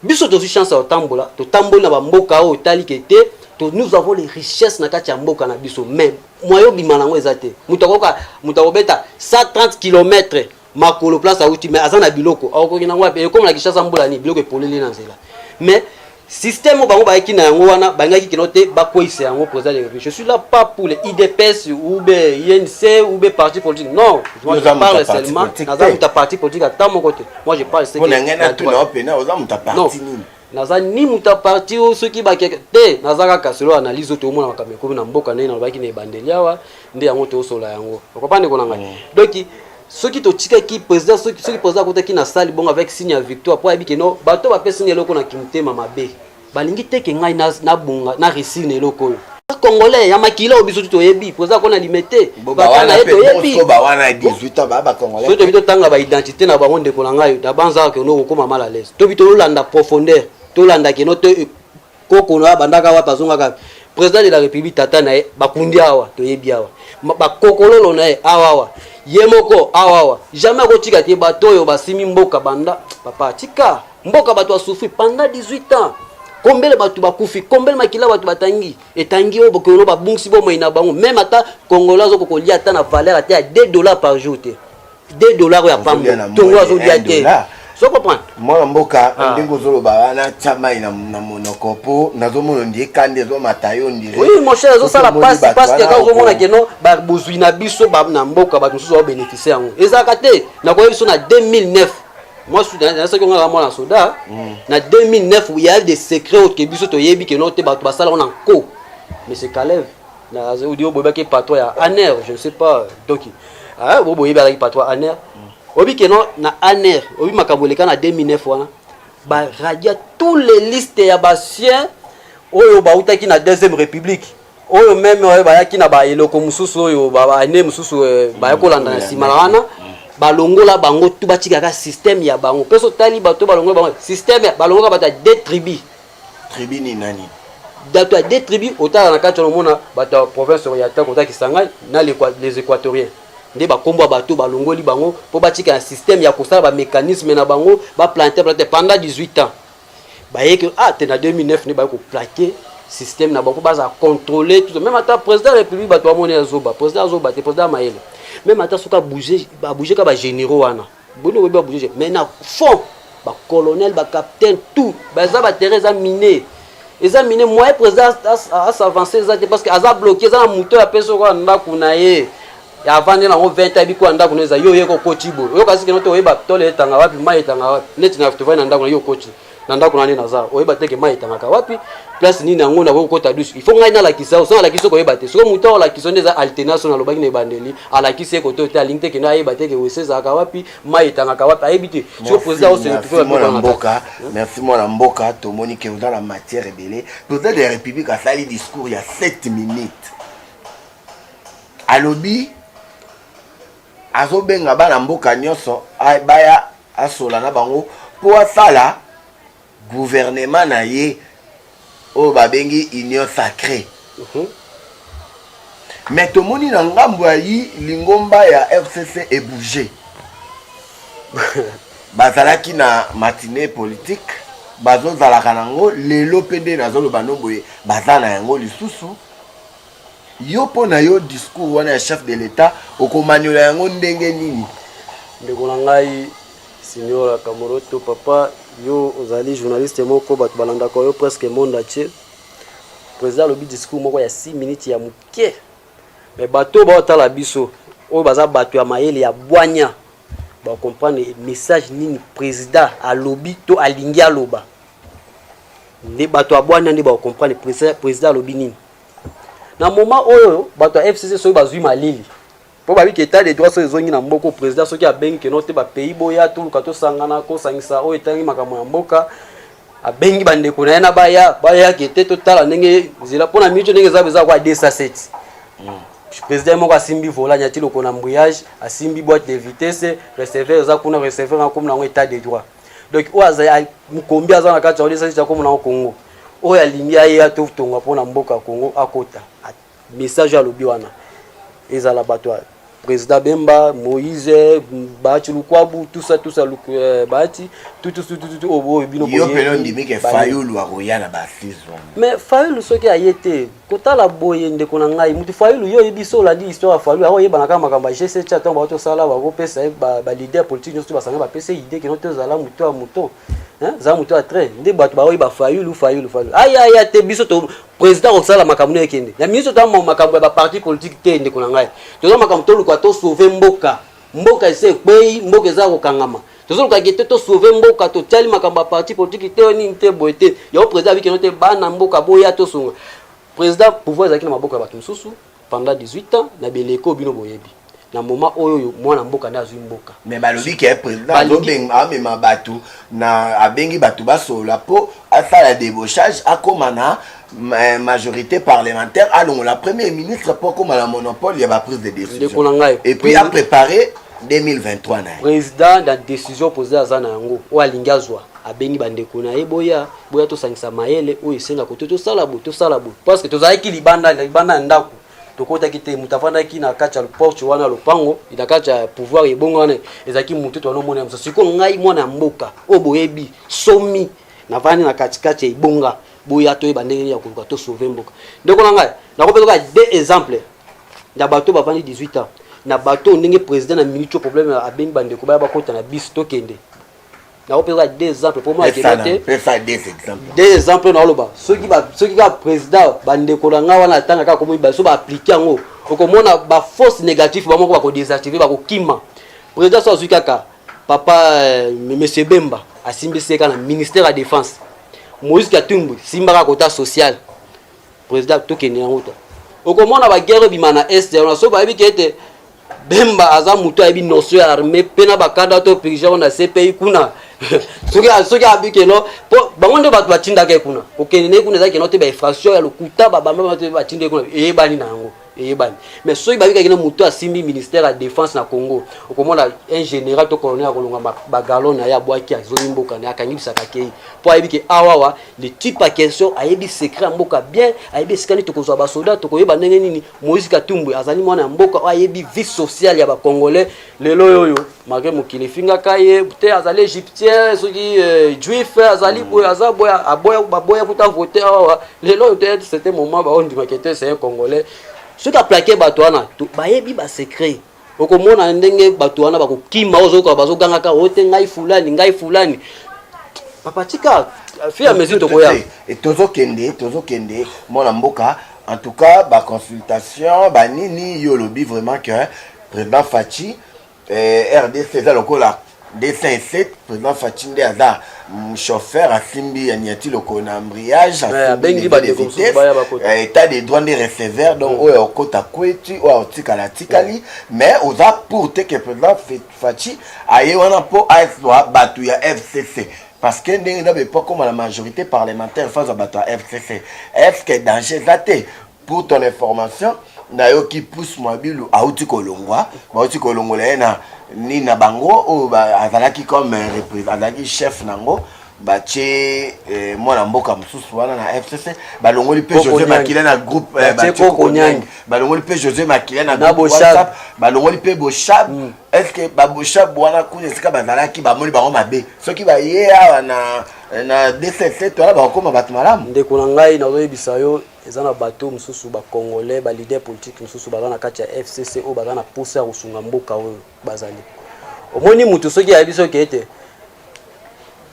Biso tozwi chance ya kotambola, totamboli na bamboka oyo etali ke te to nous avons les richesses na kati ya mboka na biso mais moyen obima nango eza te moto akoka moto akobeta 130 km makolo place awuti mais aza na biloko akokoki nango wapi ekoma na kishasa mbula nini biloko epoleli na nzela mais système oyo bango bayaki na yango wana balingaki kino te bakweisa yango président de république je suis là pas pour les idps ou be inc ou be parti politique non je parle seulement naza moto ya parti politique ata moko te moi je parle c'est que na ngana tu na open na oza muta parti nini naza ni muta parti o soki ba keke te naza kaka solo analyse oyo tokomona makambo ekomi na mboka ndenge nalobaki na ebandeli awa nde yango tosola yango okopa ndeko na ngai mm. donki soki totikaki président soki soki président akotaki na sali bongo avec signe ya victoire mpo ayebi keno bato bapesi nga eloko na kimotema mabe balingi te ke ngai nabonga na resir na eloko oyo congolais ya makila oyo biso tu toyebi poza kona limete bakana ye toyebi soki tobi totanga baidentité na bango ndeko na ngai dabanzaka keno okokoma mal à l'aise tobi tolanda profondeur tolanda keno to eh, koko na bandaka wapi azongaka président de la république tata na ye bakundi awa toyebi awa bakokololo na ye awa awa ye moko awa awa jamais akotika te bato oyo basimi mboka banda papa tika mboka bato ya souffri pendant 18 ans kombele bato bakufi kombele makila bato batangi etangi oyo bokeno babungisi bomoi na bango meme ata kongola azoko kolia ata na valeur ata ya 2 dollars par jour te 2 dollars oyo ya pambo tongo azolia te so comprendre mwana mboka ah. ndenge ozoloba wana tya mai na monoko mpo nazomona ndi ekandi ezomata yo ndire oui mon cher ezosala pasi pasi kaka ozomona keno bozwi na biso na mboka bato mosusu baobenefise yango ezalaka te nakoyebi biso na 2009 moi nazalaki onga kaka mwana soda mm. na 2009 ya de secret oyo ke biso toyebi ke no te bato basala ona nko monsieur kalev odi oyo boyebaki patro ya aner je ne sais pas doki ah, oyo boyebi alaki patro ya aner mm. oyebi ke no na aner oyebi makambo eleka na 2009 wana baradia tous les listes ya basien oyo bautaki na deuxième république oyo meme oyo bayaki na ba eloko mususu oyo ba année mususu eh, baya kolanda na nsima na wana balongola bango tu batikaka système ya bango mpe sotali bato balongola bango système ya- balongola bato ya de tribu tribu ni nani bato ya de tribu otala na kati olomona bato ya province ya ta kota kisangani na l'Equa- les équatoriens nde bakombo ya bato balongoli bango mpo batika na système ya kosala bamécanisme na bango baplante plante pendant 18 ans baye ke ah te na 2009 nde baye koplake système na bango baza contrôler tout même ata président ya république bato bamoni ya zoba président azoba te président ya mayele même ata soki abouge abouge ka bagénéraux wana boni oyebi abouge mais na fond bacolonel bacapitaine tout baza baterrain eza mine eza mine moyen président asavance eza te parce que aza bloqué eza na moto ya mpe soko ya ndako na ye ya avandi na ngo 20 abi kwa ndako neza yo yeko kochi bo yo kasi kino to oyeba tole etanga wapi mai etanga wapi neti na tovai na ndako na yo kochi na ndako na nde naza oyeba teke mai etangaka wapi place nini yango nakoki kokota dusu il faut ngai nalakisa yo soki alakisi oko oyeba te soki moto ao alakisi yo nde eza alternance oyo nalobaki na ebandeli alakisi ye koto te alingi te kende ayeba te ke wese ezalaka wapi mai etangaka wapi ayebi te soki président oseetuana mboka merci mwana mboka tomoni ke oza na matière ebele président de la république asali discours ya 7 minutes Alobi azobenga bana mboka nyonso baya asola na bango mpo asala guvernema na ye oyo babengi union sacrée uh mhm. -huh. me tomoni na ngambo ya yi lingomba ya fcc ebouge bazalaki na matine politike bazozalaka na yango lelo mpe nde nazoloba no boye baza na yango lisusu Yo mpo na yo discours wana ya chef de l'etat okomanyola yango ndenge nini? Ndeko na ngai Signora Kamoroto, papa yo ozali journaliste moko bato balandaka yo presque monde entier. Président alobi discours moko ya 6 minutes ya moke, me bato baotala biso oyo baza bato ya mayele ya bwanya bakomprendre message nini président alobi to alingi aloba. nde bato ya bwania nde bakokomprendre président alobi nini na moment oyo bato ya fcc soki bazwi malili mpo babi ke de droit soki ezongi na mboka président soki abengi keno te bapays boya toluka tosangana kosangisa oyo etangi makambo ya mboka abengi bandeko na ye na baya bayake te totala ndenge nzela mpo na miniti ndenge eza eza kwa 207 hmm. président moko asimbi vola nyati loko na mbouillage asimbi boîte de vitesse receveur eza kuna receveur akomi na yango état de droit donc oyo azali mokombi aza na kati ya odesasi tya komona ngo kongo oyo alingi aye atotonga mpo na mboka ya kongo akota message oyo alobi wana ezala bato ya président bemba moïse bahati lukwabu tusa tusa euh, bahati tututututu oyo bino yo mpena ondimi ke fayulu akoya na basis mais fayulu soki aye te kotala boye ndeko na ngai mutu fayilu yo oyebi so olandi histoire ya fayilu akoyebana kaka makambo ya gcc atango bako tosala bakopesa ye baleader politique nyonso to basanga bapesa ye idée kino tozala moto ya moto zala moto ya trai nde bato baoyeba fayilu fayilu fayilu ayaya te biso to président akosala makambo na ekende na ministre ta makambo ya baparti politique te ndeko na ngai toza makambo toluka tosauve mboka mboka esi ekwei mboka eza kokangama tozoluka gete to sauve mboka totiali makambo ya parti politiki te nini te boye te yango président abikeno te bana mboka boya tosunga président pouvoir ezalaki na maboko ya bato mosusu pendant 18 ans na beleko bino boyebi na moment oyo oyo mwana mboka nde azwi mboka mais balobi ke président azobeng amema bato na abengi bato basolola mpo asala debochage akóma na majorité parlementaire alongola premier ministre mpo akoma na monopole ya baprise de décision et puis aprépare 2023 na ye président na décision président aza na yango oyo alingi azwa abengi bandeko na ye boya boya tosangisa mayele oyo esenga kote tosala boye tosala boye parce que tozalaki libanda libanda ya ndako tokotaki te moto afandaki na kati ya porte wana lopango na kati ya pouvoir ebongo wana ezalaki motu to wana mona mosusu sikoyo ngai mwana ya mboka oyo boyebi somi navandi na katikati ya ebonga boya toyeba ndenge nini ya koluka to sauver mboka ndeko na ngai nakopesa kaka deux exemples na bato bavandi 18 ans na bato oyo ndenge président na minute oyo problème abengi bandeko baya bakota na bisi tokende nakopesa kaka deux exemples mpo mwa ekeba te deux exemples naoloba soki kaka président bandeko na ngai wana atanga kaka komoyi baso baaplike yango okomona baforce négative bamoko bakodésactive bakokima président so azwi kaka papa euh, monsieur bemba asimbisi ye kaka na ministère ya défense moïse katumbu simbaka kota social président tokende yango to okomona baguerre ebima na est yango so bayebi ke ete bemba aza moto ayebi notion ya armée mpe na bakanda to pirigeango na cpi kuna soki soki abikeno mpo bango nde bato batindaka ye kuna kokende ne kuna ezalaki no te bainfraction ya lokuta babamba batindaki kuna eyebani na yango eyebani mais soki babikaki na moto asimbi ministère ya défense na congo okomona un général to colonel akolonga bagalon na ye abwaki azongi mboka na ye akangi bisaka kei mpo ayebi ke awawa le type ya question ayebi secret ya mboka bien ayebi esika nini tokozwa basoda tokoyeba ndenge nini moïse katumbu azali mwana ya mboka oyo ayebi vie sociale ya bacongolais lelo oyo make mokili efingaka ye te azali egyptien soki eh, juif azali boye aza boye aboya baboya kuta vote awa lelo oyo te c'était moment baondimaka te c'est congolais soki aplake bato wana bayebi basecret okomona ndenge bato wana bakokima ozokoka bazogangaka o oh, te ngai fulani ngai fulani papa tika fi ya mesure tokoya eh, tozokende tozokende mwana mboka en tout cas baconsultation banini yo olobi vraiment que President Fatshi eh, RDC eza lokola 207 president Fatshi nde aza mm, chauffeur asimbi ya niati loko na embrayage abengi bandeko mosusu baya bakota eh, état de droit nde receveur donc mm. oyo okota kweti oyo otikala atikali mm. mais oza pour te que president Fatshi aye wana mpo azwa bato ya FCC parce que ndenge na bepo akoma na majorité parlementaire fazwa bato ya FCC est ce que danger eza te Pour ton information, nayoki Pouce Mwabilu auti kolongwa, bauti kolongola ye na nini na bango oyo azalaki comme euh, azalaki chef nango batie eh, mwana mboka mosusu wana na fcc balongoli mpe josé makila na groupe eh, kokonyangi balongoli mpe josé makila na groupe whatsapp balongoli mpe boshab mm. est ce que baboshab wana kuna esika bazalaki bamoni bango mabe soki baye awa na na dcc to wana bakokoma bato malamu ndeko na ngai nazoyebisa yo Eza na bateau mususu ba congolais ba leader politique mususu baza na kati ya FCC oyo baza na posa ya kosunga mboka oyo bazali. Omoni mutu soki ayebi soki ete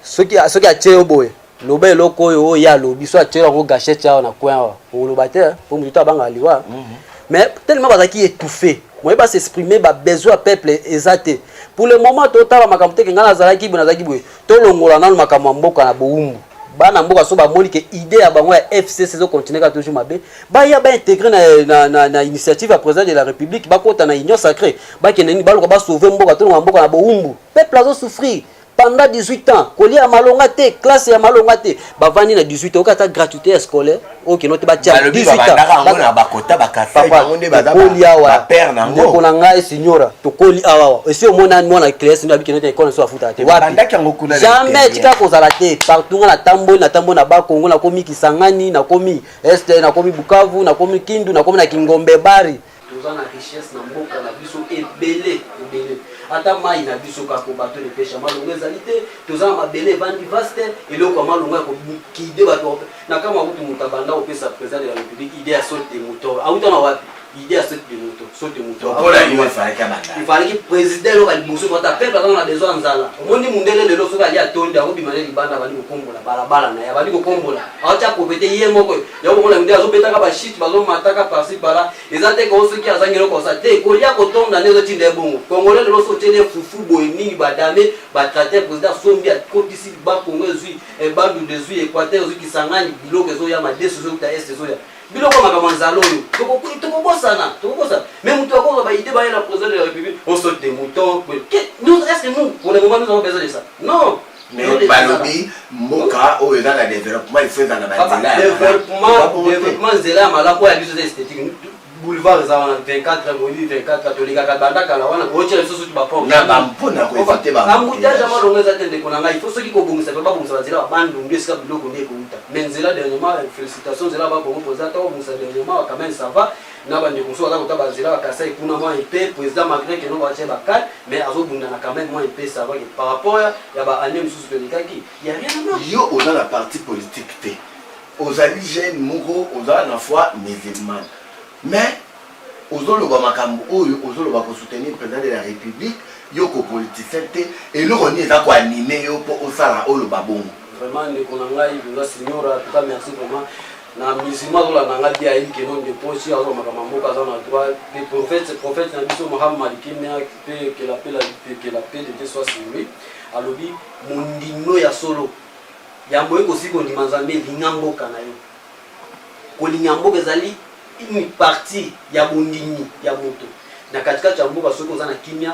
soki soki atie yo boye loba eloko oyo oyo ye alobi so atie yango gachette awa na coin awa okoloba te mpo motu to abangaka liwa mhm. mais tellement bazalaki étouffé moye ba s'exprimer ba besoin ya peuple eza te pour le moment totala makambo te ke ngai nazalaki boye nazalaki boye tolongola nano makambo ya mboka na bowumbu bana mboka so bamoni ke idée ya bango ya fcc ezo continue kaka toujours mabe baya baintegre na, na, na, na initiative ya président de la république bakota na union sacré bakende nini baluka basauve mboka tolonga mboka na bowumbu peuple azo souffrir pendant 18 ans kolia ya malonga te classe ya malonga te bavandi na 18 oyoki ata gratuité ya scolaire oke note batia 18 awa ndeko na ngai signora tokoli awawa esi omona mwana classe nde abiki note ekolo so afutaka te wapijamai tika kozala te partout nga natamboli natamboli na bakongo nakomi kisangani nakomi este nakomi bukavu nakomi kindu nakomi na kingombe bari Toza na richesse na mboka na biso ebele ebele, ata mai na biso kako bato de pesha malonga ezali te, toza na mabele ebandi vaste, eloko ya malonga ya kobukide bato na kama kutu moto abanda kopesa president de la republique idee ya saute de mouton auta na wapi idée ya saute de mouton saute de mouton okola yo efalaki abanda efalaki president eloko ya liboso kota peuple azanga na besoin ya nzala omoni mundele lelo soki ali atonde akobima ne libanda abandi kokombola balabala na ye abandi kokombola aotya kopete ye moko ya komona mide azobetaka bashite bazomataka parci pala eza te koo soki azangi eloko osa te kolia kotonda nde ezotinda ebongo kongole lelo so otyeli efufu boye nini badame batrate président sombi akotisi bakongo ezwi ebandundu eh, ezwi équateur ezwi kisangani biloko ezoya madesu ezouta este ezoya biloko makambo nzala oyo tokobosana tokobosana mais moto akozwa baide baye na président de la république on saute des moutons est ce que nous pour le moment nous avons besoin de ça non Mais balobi mboka oyo eza na development ifo eza na banzela development nzela ya malamu oyo ya biso eza esthétique boulevard eza wana 24 moyi 24 tolingaka banda kala wana kootya biso soki bapombuttage ya malonga eza te ndeko na ngai ifo soki kobongisa mpe babongisa banzela ya bandundu esika biloko nde ekouta mais nzela dernièrement félicitation nzela bakongo mpoza ata babongisa dernièrement quand même ça va na ba ndeko mosusu baza kota ba zela ba kasai kuna mwa epais president malgre que non ba tie ba cale mais azo bundana quand meme mwa epais ça va que par rapport ya ya ba annee mosusu to lekaki il ya rien à voir yo oza na parti politique te ozali jeune moko oza na foi musulmane mais ozoloba makambo oyo ozoloba ko soutenir président de la république yo ko politicien te eloko nini eza ko anime yo mpo osala oyo babongo vraiment ndeko na ngai mpenza signora tuka merci vraiment na musulman azolanda nga te ayebi ke non deposi azwa makambo ya mboka aza na droit mpe prophète prophète na biso mohammad kimia mpe kela mpe la mpe kela mpe de te soit sur lui alobi mondimno ya solo yambo ye kosi kondima nzambe elinga mboka na yo kolinga mboka ezali une partie ya bondimi ya moto na katikati ya mboka soki oza na kimia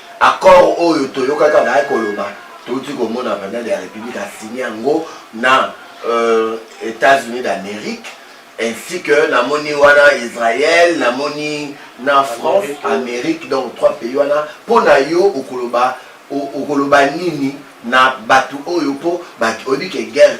Accord oyo toyokaki azalaki koloba touti komona president de la republique asigne yango na euh, Etats-Unis d'Amerique ainsi que namoni wana Israël namoni na France Amérique donc trois pays wana mpo na yo okoloba okoloba nini na bato oyo mpo oyebi ke guerre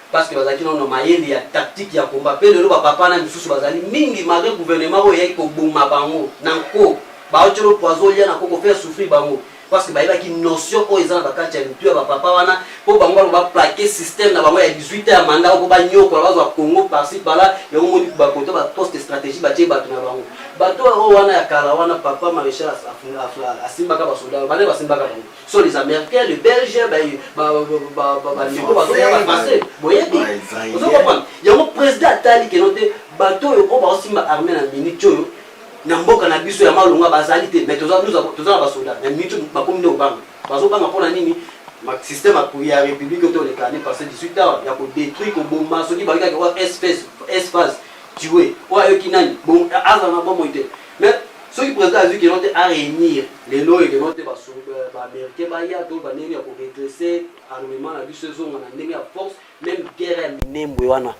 parce que bazalaki nano na mayele ya tactique ya combat mpe lelo bapapa na misusu bazali mingi malgre gouvernement oyo eyaki koboma bango na nko baotyolo poison olia na nko kofaire souffrir bango parce que bayebaki notion oyo eza na bakati ya mitu ya bapapa wana mpo bango bako baplake système na bango ya 18 ya manda oko banyokola bazwa congo parci pala yango moni bakota baposte stratégie batye bato na bango bato oyo wana ya kala wana papa maréchal asimbaka basoda bana basimbaka bango sont les américains les belges bandeko bazoya bafrancais boyebi ozo comprendre yango président atali keno te bato oyo oyo baosimba armée na minute oyo na mboka na biso ya malonga bazali te mais toza na basoda na minute bakomi nde obanga bazobanga mpo na nini système ya république oyo toleka ne passé 18 heures ya kodétruire koboma soki bakekaki oyo sphase tue oyo ayoki nani azala na bomoi te Mais soki president azui que non te a reunir lelo oyo que non te ba americains baya to ba ndenge ya ko redresser armement na biso ezonga na ndenge ya force meme guerre ya minembwe wana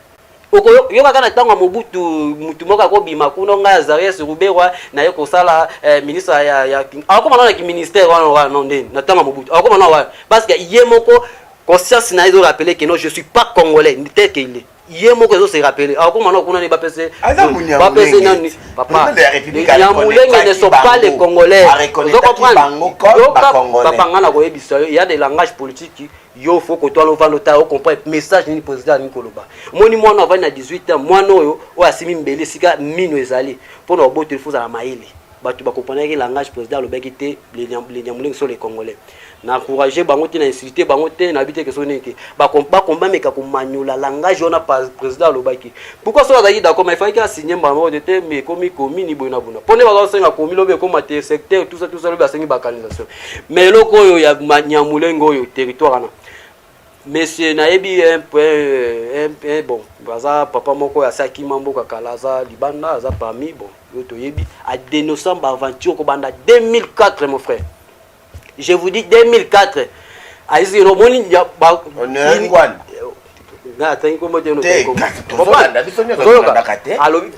okoyokaka na ntango ya mobutu motu moko akobima kuna ngai azarias ruberwa naye kosala eh, ministre ya, ya akokoma nao na kiministère wana wana no ndeni na ntango ya mobutu akokoma nao wana parce que ye moko conscience na ye ezorapele que non je suis pas congolais tel que il est ye moko ezo se rappeler akoma na kuna ne bapese bapese nani papa ya mulenge ne sont pas les congolais ozo comprendre yoka papa nga na koyebisa yo ya des langages politiques yo fo kotwana ovanda otala ocomprendre message nini président alingi koloba moni mwana avandi na 18 ans mwana oyo oyo asimi mbeli esika mino ezali mpo na oboteli fo ozala mayele bato bakomprenaki langage président alobaki te lenyamulenge so le congolais na encourage bango te na insulte bango te na bite keso nini te bakombameka komanyola langage wana président alobaki pourquoi soki azalaki d'accord mais efalaki asigne mbala moko te te mais ekomi komini boye na bona mpo nde bazosenga komi lobi ekoma te secteur tout ça tout ça lobi asengi bacanalisation mais eloko oyo ya nyamulenge oyo territoire wana monsieur nayebi ye un peu un peu bon aza papa moko ya saki mambo kakala aza libanda aza parmi bon yo toyebi a dénonçant ba aventure ko banda 2004 mon frère je vous dis 2004 ayisi no moni ba na atangi kombo te no te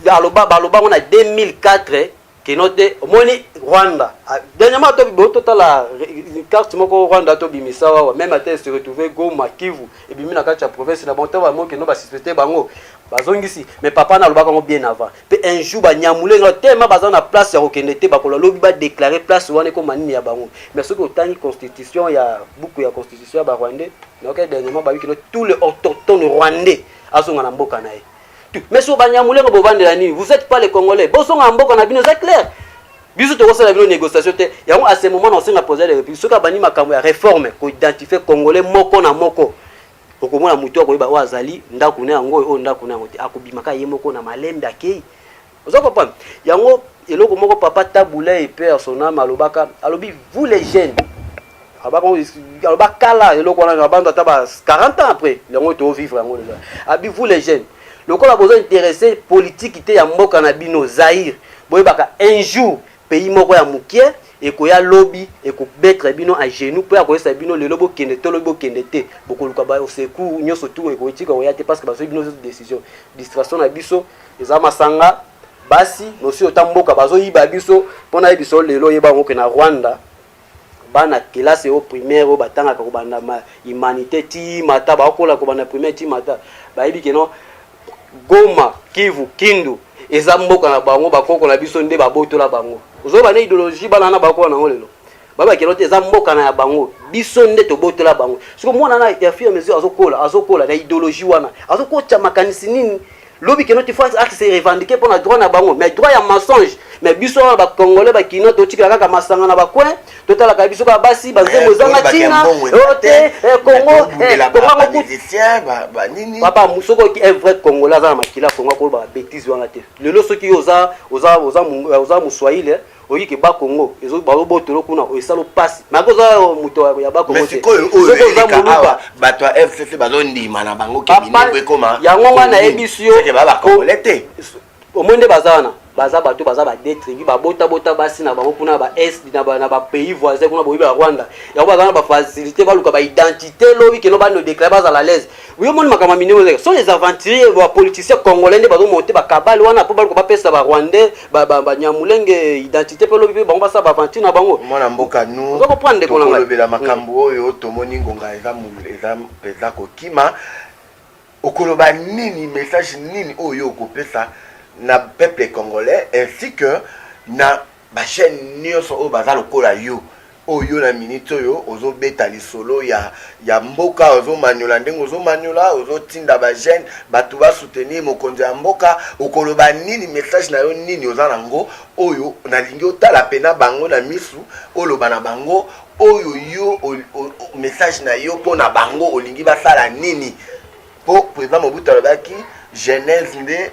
aloba baloba ngo na 2004 kino te omoni rwanda ah, dernièrement tobibo totala carte moko rwanda tobimisa wawa meme ata se retrouve goma kivu ebimi na kati ya province na bango ntango bango kino basuspecte bango bazongisi mais papa na alobaka yango bien avant mpe un jour banyamule nga tellement baza na place ya kokende te bakolo lobi badeclare place wana ekoma nini ya bango mais soki otangi constitution ya buku ya constitution ya barwandais nayoka dernièrement babi kino tout le autochtone rwandais azonga na mboka na ye mais sur banyamulenge bovandela nini vous êtes pas les congolais bozonga mboka na bino eza clair biso tokosala bino négociation te yango à ce moment na osenga président de la république soki abandi makambo ya réforme koidentifie congolais moko na moko okomona motu akoyeba oyo azali ndako na yango oyo ndako na yango te akobimaka ye moko na malembe akei Ozo comprendre? Yango eloko moko papa Tabula et père son âme alobaka, alobi vous les jeunes abako aloba kala eloko wana na bando ata ba 40 ans après yango to vivre yango deja. Abi vous les jeunes lokola bozo intéressé politique te ya mboka na bino Zaire boyebaka un jour pays moko ya mukie ekoya lobi ekobetre bino à genoux mpo ya koyesa bino lelo bokende to lobi bokende te bokoluka ba secours nyonso tu ekotika koya te parce que bazwi bino décision distraction na biso Eza masanga basi nosi ota mboka bazo yiba biso pona yebisa yo lelo yeba yango ke na Rwanda bana kelasi o primaire oyo batangaka kobanda ma humanité ti mata bakola kobanda primaire ti mata bayebi ke non Goma Kivu Kindu eza mboka na bango bakoko na biso nde babotola bango ozoba na ideologie bana na bakola nango lelo baba kelo te eza mboka na ya bango biso nde tobotola bango siko mwana na ya fur mesure azokola azokola na idéologie wana azokotya makanisi nini lobi keno ti fois ake se revendiquer mpo na droit na bango mais droit ya mensonge mais biso wana bacongolais bakinois totikela kaka masanga na bacoin totalaka biso kaka basi banzembo ezanga ntina o te congo papa soki oki un vrai congolais aza na makila congo akolobaka bétise wana te lelo soki yo oza moswahili Oyi ke ba Congo ezo bazo botolo kuna oyo esalo pasi mais ako za moto ya ba Congo te sikoyo oyo za muluba bato ya FCC bazo ndima na bango ke minoko ekoma yango nga na yebisi yo ke ba ba Congolais te omoni nde baza wana baza bato baza ba deux tribu babota bota basi na bango kuna ba est na ba na ba pays voisins kuna boyebi ya Rwanda yango baza na ba facilité baluka ba identité lobi keno bando déclarer bazala à l'aise yo moni makambo ya minene sont les aventuriers ba politiciens congolais nde bazo monter ba kabale wana po baluka bapesa ba rwandais ba ba ba nyamulenge identité pe lobi pe bango basala ba aventure na bango mwana mboka nous ozo comprendre ndeko na ngai tokolobela makambo mm. oyo tomoni ngonga eza eza eza kokima okoloba nini message nini oyo okopesa na peuple congolais ainsi que na ba chaîne nyonso oyo baza lokola yo Oyo yo na minute oyo ozo beta lisolo ya ya mboka ozo maniola ndenge ozo maniola ozo tinda ba jeune batu ba soutenir mokonzi ya mboka okoloba nini message na yo nini oza na ngo oyo nalingi otala pena bango na misu oloba na bango oyo yo o, o, message na yo pona bango olingi basala nini Po president Mobutu alobaki genèse nde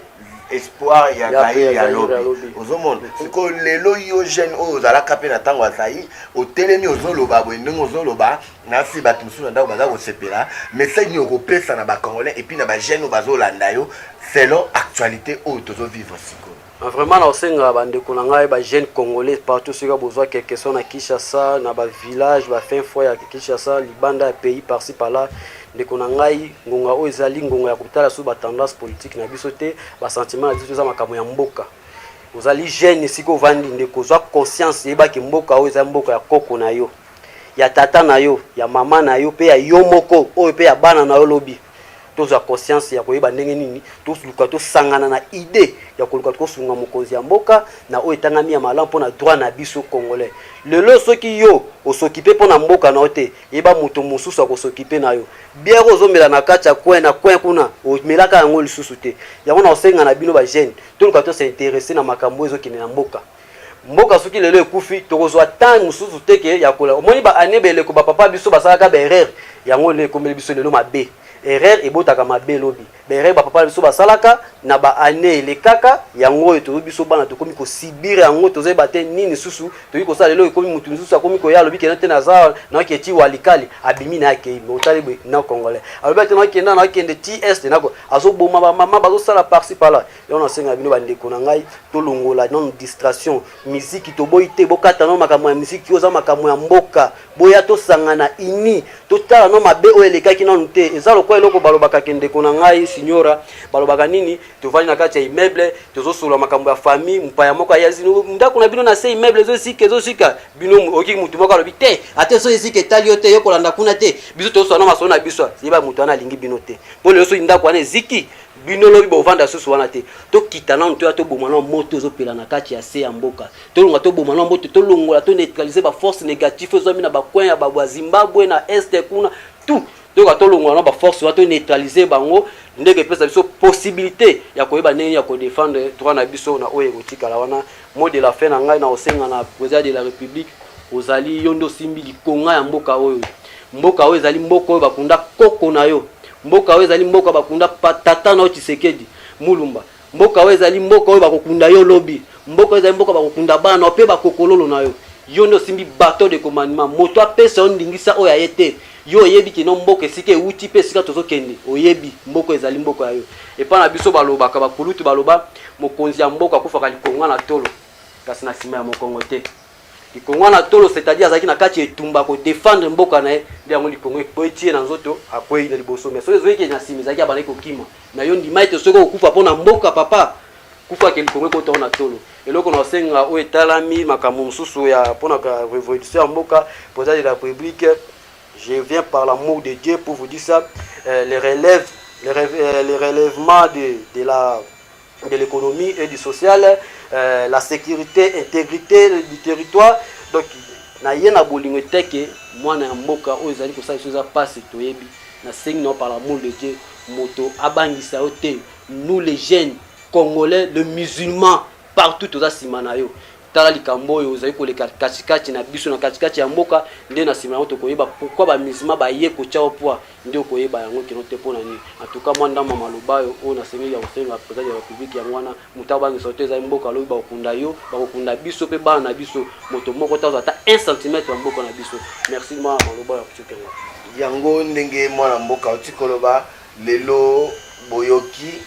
espoir ya zaire ya lobi ozomona sikoyo lelo yo jeune oyo ozalaka mpe na ntango ya zaire otelemi ozoloba boye ndenge ozoloba nasi bato mosusu na ndako baza kosepela message nini okopesa na bacongolais epuis na bajeune oyo bazolanda yo selon actualité oyo tozovivre sikoyo Ah, vraiment nakosenga bandeko na ngai ba jeune congolais partout soki bozwa quelque soit na kinshasa na bavillage bafin foi ya kinshasa libanda ya pays parci pala ndeko na ngai ngonga oyo ezali ngonga ya kotala so batendance politique na biso te basentiment na biso eza makambo ya mboka ozali jeune esika ovandi ndeko ozwa conscience yebaki mboka oyo eza mboka ya koko na yo ya tata na yo ya mama na yo mpe ya yo moko oyo mpe ya bana na yo lobi tozwa conscience ya koyeba ndenge nini toluka tosangana na idee ya koluka tokosunga mokonzi ya mboka na oyo etangami ya malamu mpo na droit na biso congolais lelo soki yo osokipe mpo na mboka na yo te yeba moto mosusu akosokipe na yo biere oyo ozomela na kati ya coin na coin kuna omelaka yango lisusu te yango na kosenga na bino bagene toluka tosinteresse na makambo oyo ezokende na mboka mboka soki lelo ekufi tokozwa temps mosusu te ke ya kola omoni ba année beleko ba papa biso basalaka ba erreur yango nde ekomeli biso lelo mabe erreur ebotaka mabe lobi ba erreur ba papa biso basalaka na ba année elekaka yango oyo tozo biso bana tokomi kosibire yango tozoyeba te nini susu tokoki kosala lelo ekomi motu mosusu akomi koya alobi kena te naza naoki eti walikali abimi na akei me otali boye na congolais alobi ate naokenda naokende ti este nako azoboma bamama bazosala parci pala yango nasenga bino bandeko na ngai tolongola nano distration miziki toboyi te bokata nano makambo ya miziki oza makambo ya mboka boya tosangana ini totala no mabe oyo elekaki nano te eza lokola eloko balobaka ke ndeko na ngai signora balobaka nini tovandi na kati ya immeuble tozosolola makambo ya famille mpaya moko ayazi ndako na bino na se immeuble ezozika ezozika bino oyoki motu moko alobi te ata ezo ezika etali yo te yo kolanda kuna te biso tozosolola na masolo na biso yeba motu wana alingi bino te mpo lelo soki ndako wana eziki bino lobi bovanda susu wana te tokita nano toya toboma nao moto ezopela na kati ya se ya mboka tolonga toboma nao moto tolongola to neutraliser baforce négatif ezwami na bacoin ya babwa zimbabwe na este kuna tout toyoka tolongola na baforce wana toneutralize bango ndenge epesa biso possibilité ya koyeba ndenge ya kodefendre droit na biso na oyo ekotikala wana mo de la fin na ngai na kosenga na président de la république ozali yo nde osimbi likonga ya mboka oyo Mboka oyo ezali mboka oyo bakunda koko na yo. Mboka oyo ezali mboka bakunda tata na yo Tshisekedi Mulumba. Mboka oyo ezali mboka oyo bakokunda yo lobi. Mboka oyo ezali mboka bakokunda bana na yo mpe bakokololo na yo. Yo nde osimbi bateau de commandement. Moto apesa yo ndingisa oyo ya ye te. Yo oyebi kino mboka esika ewuti mpe esika tozokende. Oyebi mboka oyo ezali mboka ya yo. Epai na biso balobaka, bakulutu baloba, mokonzi ya mboka akufaka likonga na tolo, kasi na sima ya mokongo te. Likonga na tolo c'est-à-dire azalaki na kati ya etumba ko defendre mboka na ye nde yango likonga ekweyi tie na nzoto akweyi na liboso mais soki ezoyeke na nsima ezalaki abandaki kokima mais yo ndima ete soki okokufa mpo na mboka papa kufa ke likonga ekotao na tolo eloko na osenga oyo etalami makambo mosusu ya mpo na révolution ya mboka président de la république je viens par l'amour de dieu pour vous dire ça euh, les relèves les, relève, euh, les relèvements de, de la de l'économie et du social, euh, la sécurité, intégrité du territoire. Donc, na ye na bolingo eteke mwana ya mboka oyo ezali kosala biso eza mpasi toyebi na sengi na par l'amour de dieu moto abangisa yo te nous les jeunes congolais le musulman partout toza nsima na yo tala likambo oyo ozali koleka katikati na biso na katikati ya mboka nde na nsima yango tokoyeba pourkui bamisma baye kotya o pwa nde okoyeba yango kino te mpo na nini antuka mwa ndambo maloba oyo oyo nasengeli ya kosenga president ya republiki yango wana moto abangisa te ezali mboka alobi bakokunda yo bakokunda biso mpe bana na biso moto moko tazwa ata 1 centimetre ya mboka na biso merci mwa maloba ya kotiokela yango ndenge mwana mboka oti koloba Lelo boyoki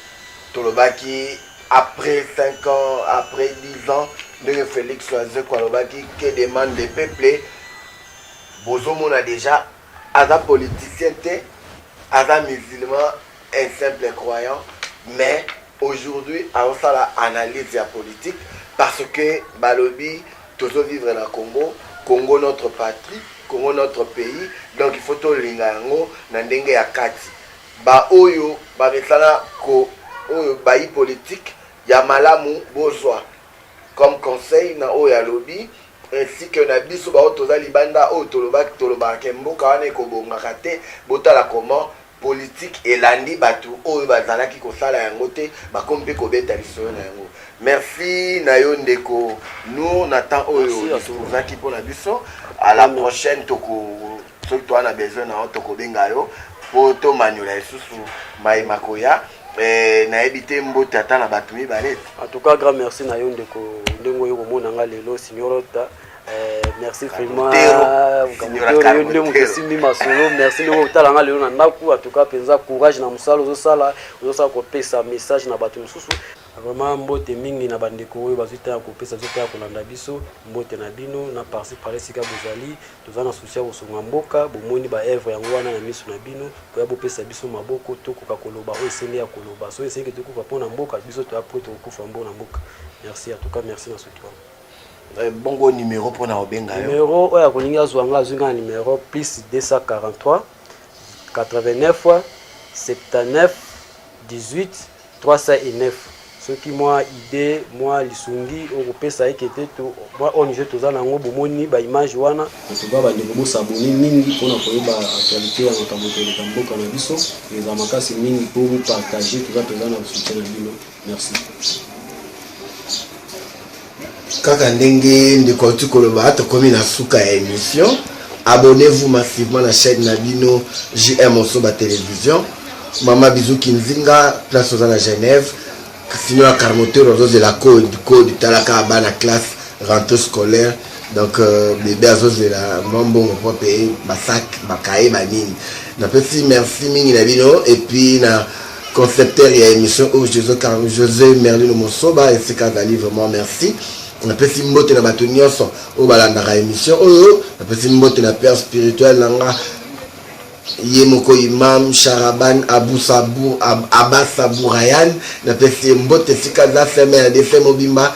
tolobaki après 5 ans après 10 ans ndenge Felix Wazekwa alobaki que demande de peuple bozomona dejà aza politicien te aza musulman un simple croyant mais aujourd'hui aosala analyse ya politique parce que balobi Tozo vivre na congo, congo notre patrie, congo notre pays donc il faut tolinga yango na ndenge ya kati ba oyo ba mesana ko oyo bayi politique ya malamu bozwa comme conseil na oyo alobi ainsi que na biso baoyo toza libanda oyo tolobaki tolobaka ke mboka wana ekobongaka te botala comment Politique elandi batu oyo bazalaki kosala yango te bakomi pe kobeta lisolo na yango. Merci na yo ndeko Nour na temps oyo Merci, Astou. disposaki mpo na biso. À la prochaine toko soki toa na besoin na yo tokobenga yo mpo tomanyola lisusu mai makoya. Eh, nayebi te mbote ata na bato mibale. En tout cas, grand merci na yo ndeko ndenge oyo komona nga lelo Signorota. merci vraiment yo nde moto esimbi masolo merci ndenge otala nga lelo na ndako atuka mpenza courage na mosala ozosala ozosala kopesa message na bato mosusu vraiment mbote mingi na bandeko oyo bazwi ntango ya kopesa bazwi ntango ya kolanda biso mbote na bino na parci pale esika bozali toza na susi ya kosunga mboka bomoni baevre yango wana na miso na bino koya bopesa biso maboko tokoka koloba oyo esenge ya koloba soki esengeke tokufa mpo na mboka biso toya mpo tokokufa mpo na mboka merci atuka merci na soki wana Eh, bongo numéro mpo na obenga yo numéro oyo akolingi azwa nga azwi nga na numéro plus 243 89 79 18 309 soki mwa idée mwa lisungi okopesa eke te mwa ong toza na yango bomoni baimage wana antuka bandeko bosabone mingi mpona koyeba actualité ya makambo koleka mboka na biso eza makasi mingi mpo bopartage toza mpenza na soutien na bino Merci. Kaka ndenge ndeko auti koloba tokomi na suka ya émission abonnez-vous massivement na chaîne na bino JM Osoba Télévision mama bizu kinzinga place oza na genève sino ya carmoteur azozela code code talaka bana classe rentre scolaire donc euh, bebe azozela mwa mbongo mpo mpe basak bakaye banini napesi merci mingi na bino epuis na Concepteur ya emission oyo Jose Carlo Jose Merlino Mosoba esika azali vraiment merci. napesi mbote na bato nyonso oyo balandaka emission oyo napesi mbote na père spirituel na nga ye moko imam sharaban abusabu abasa burayan napesi ye mbote esika aza seme ya defe mobimba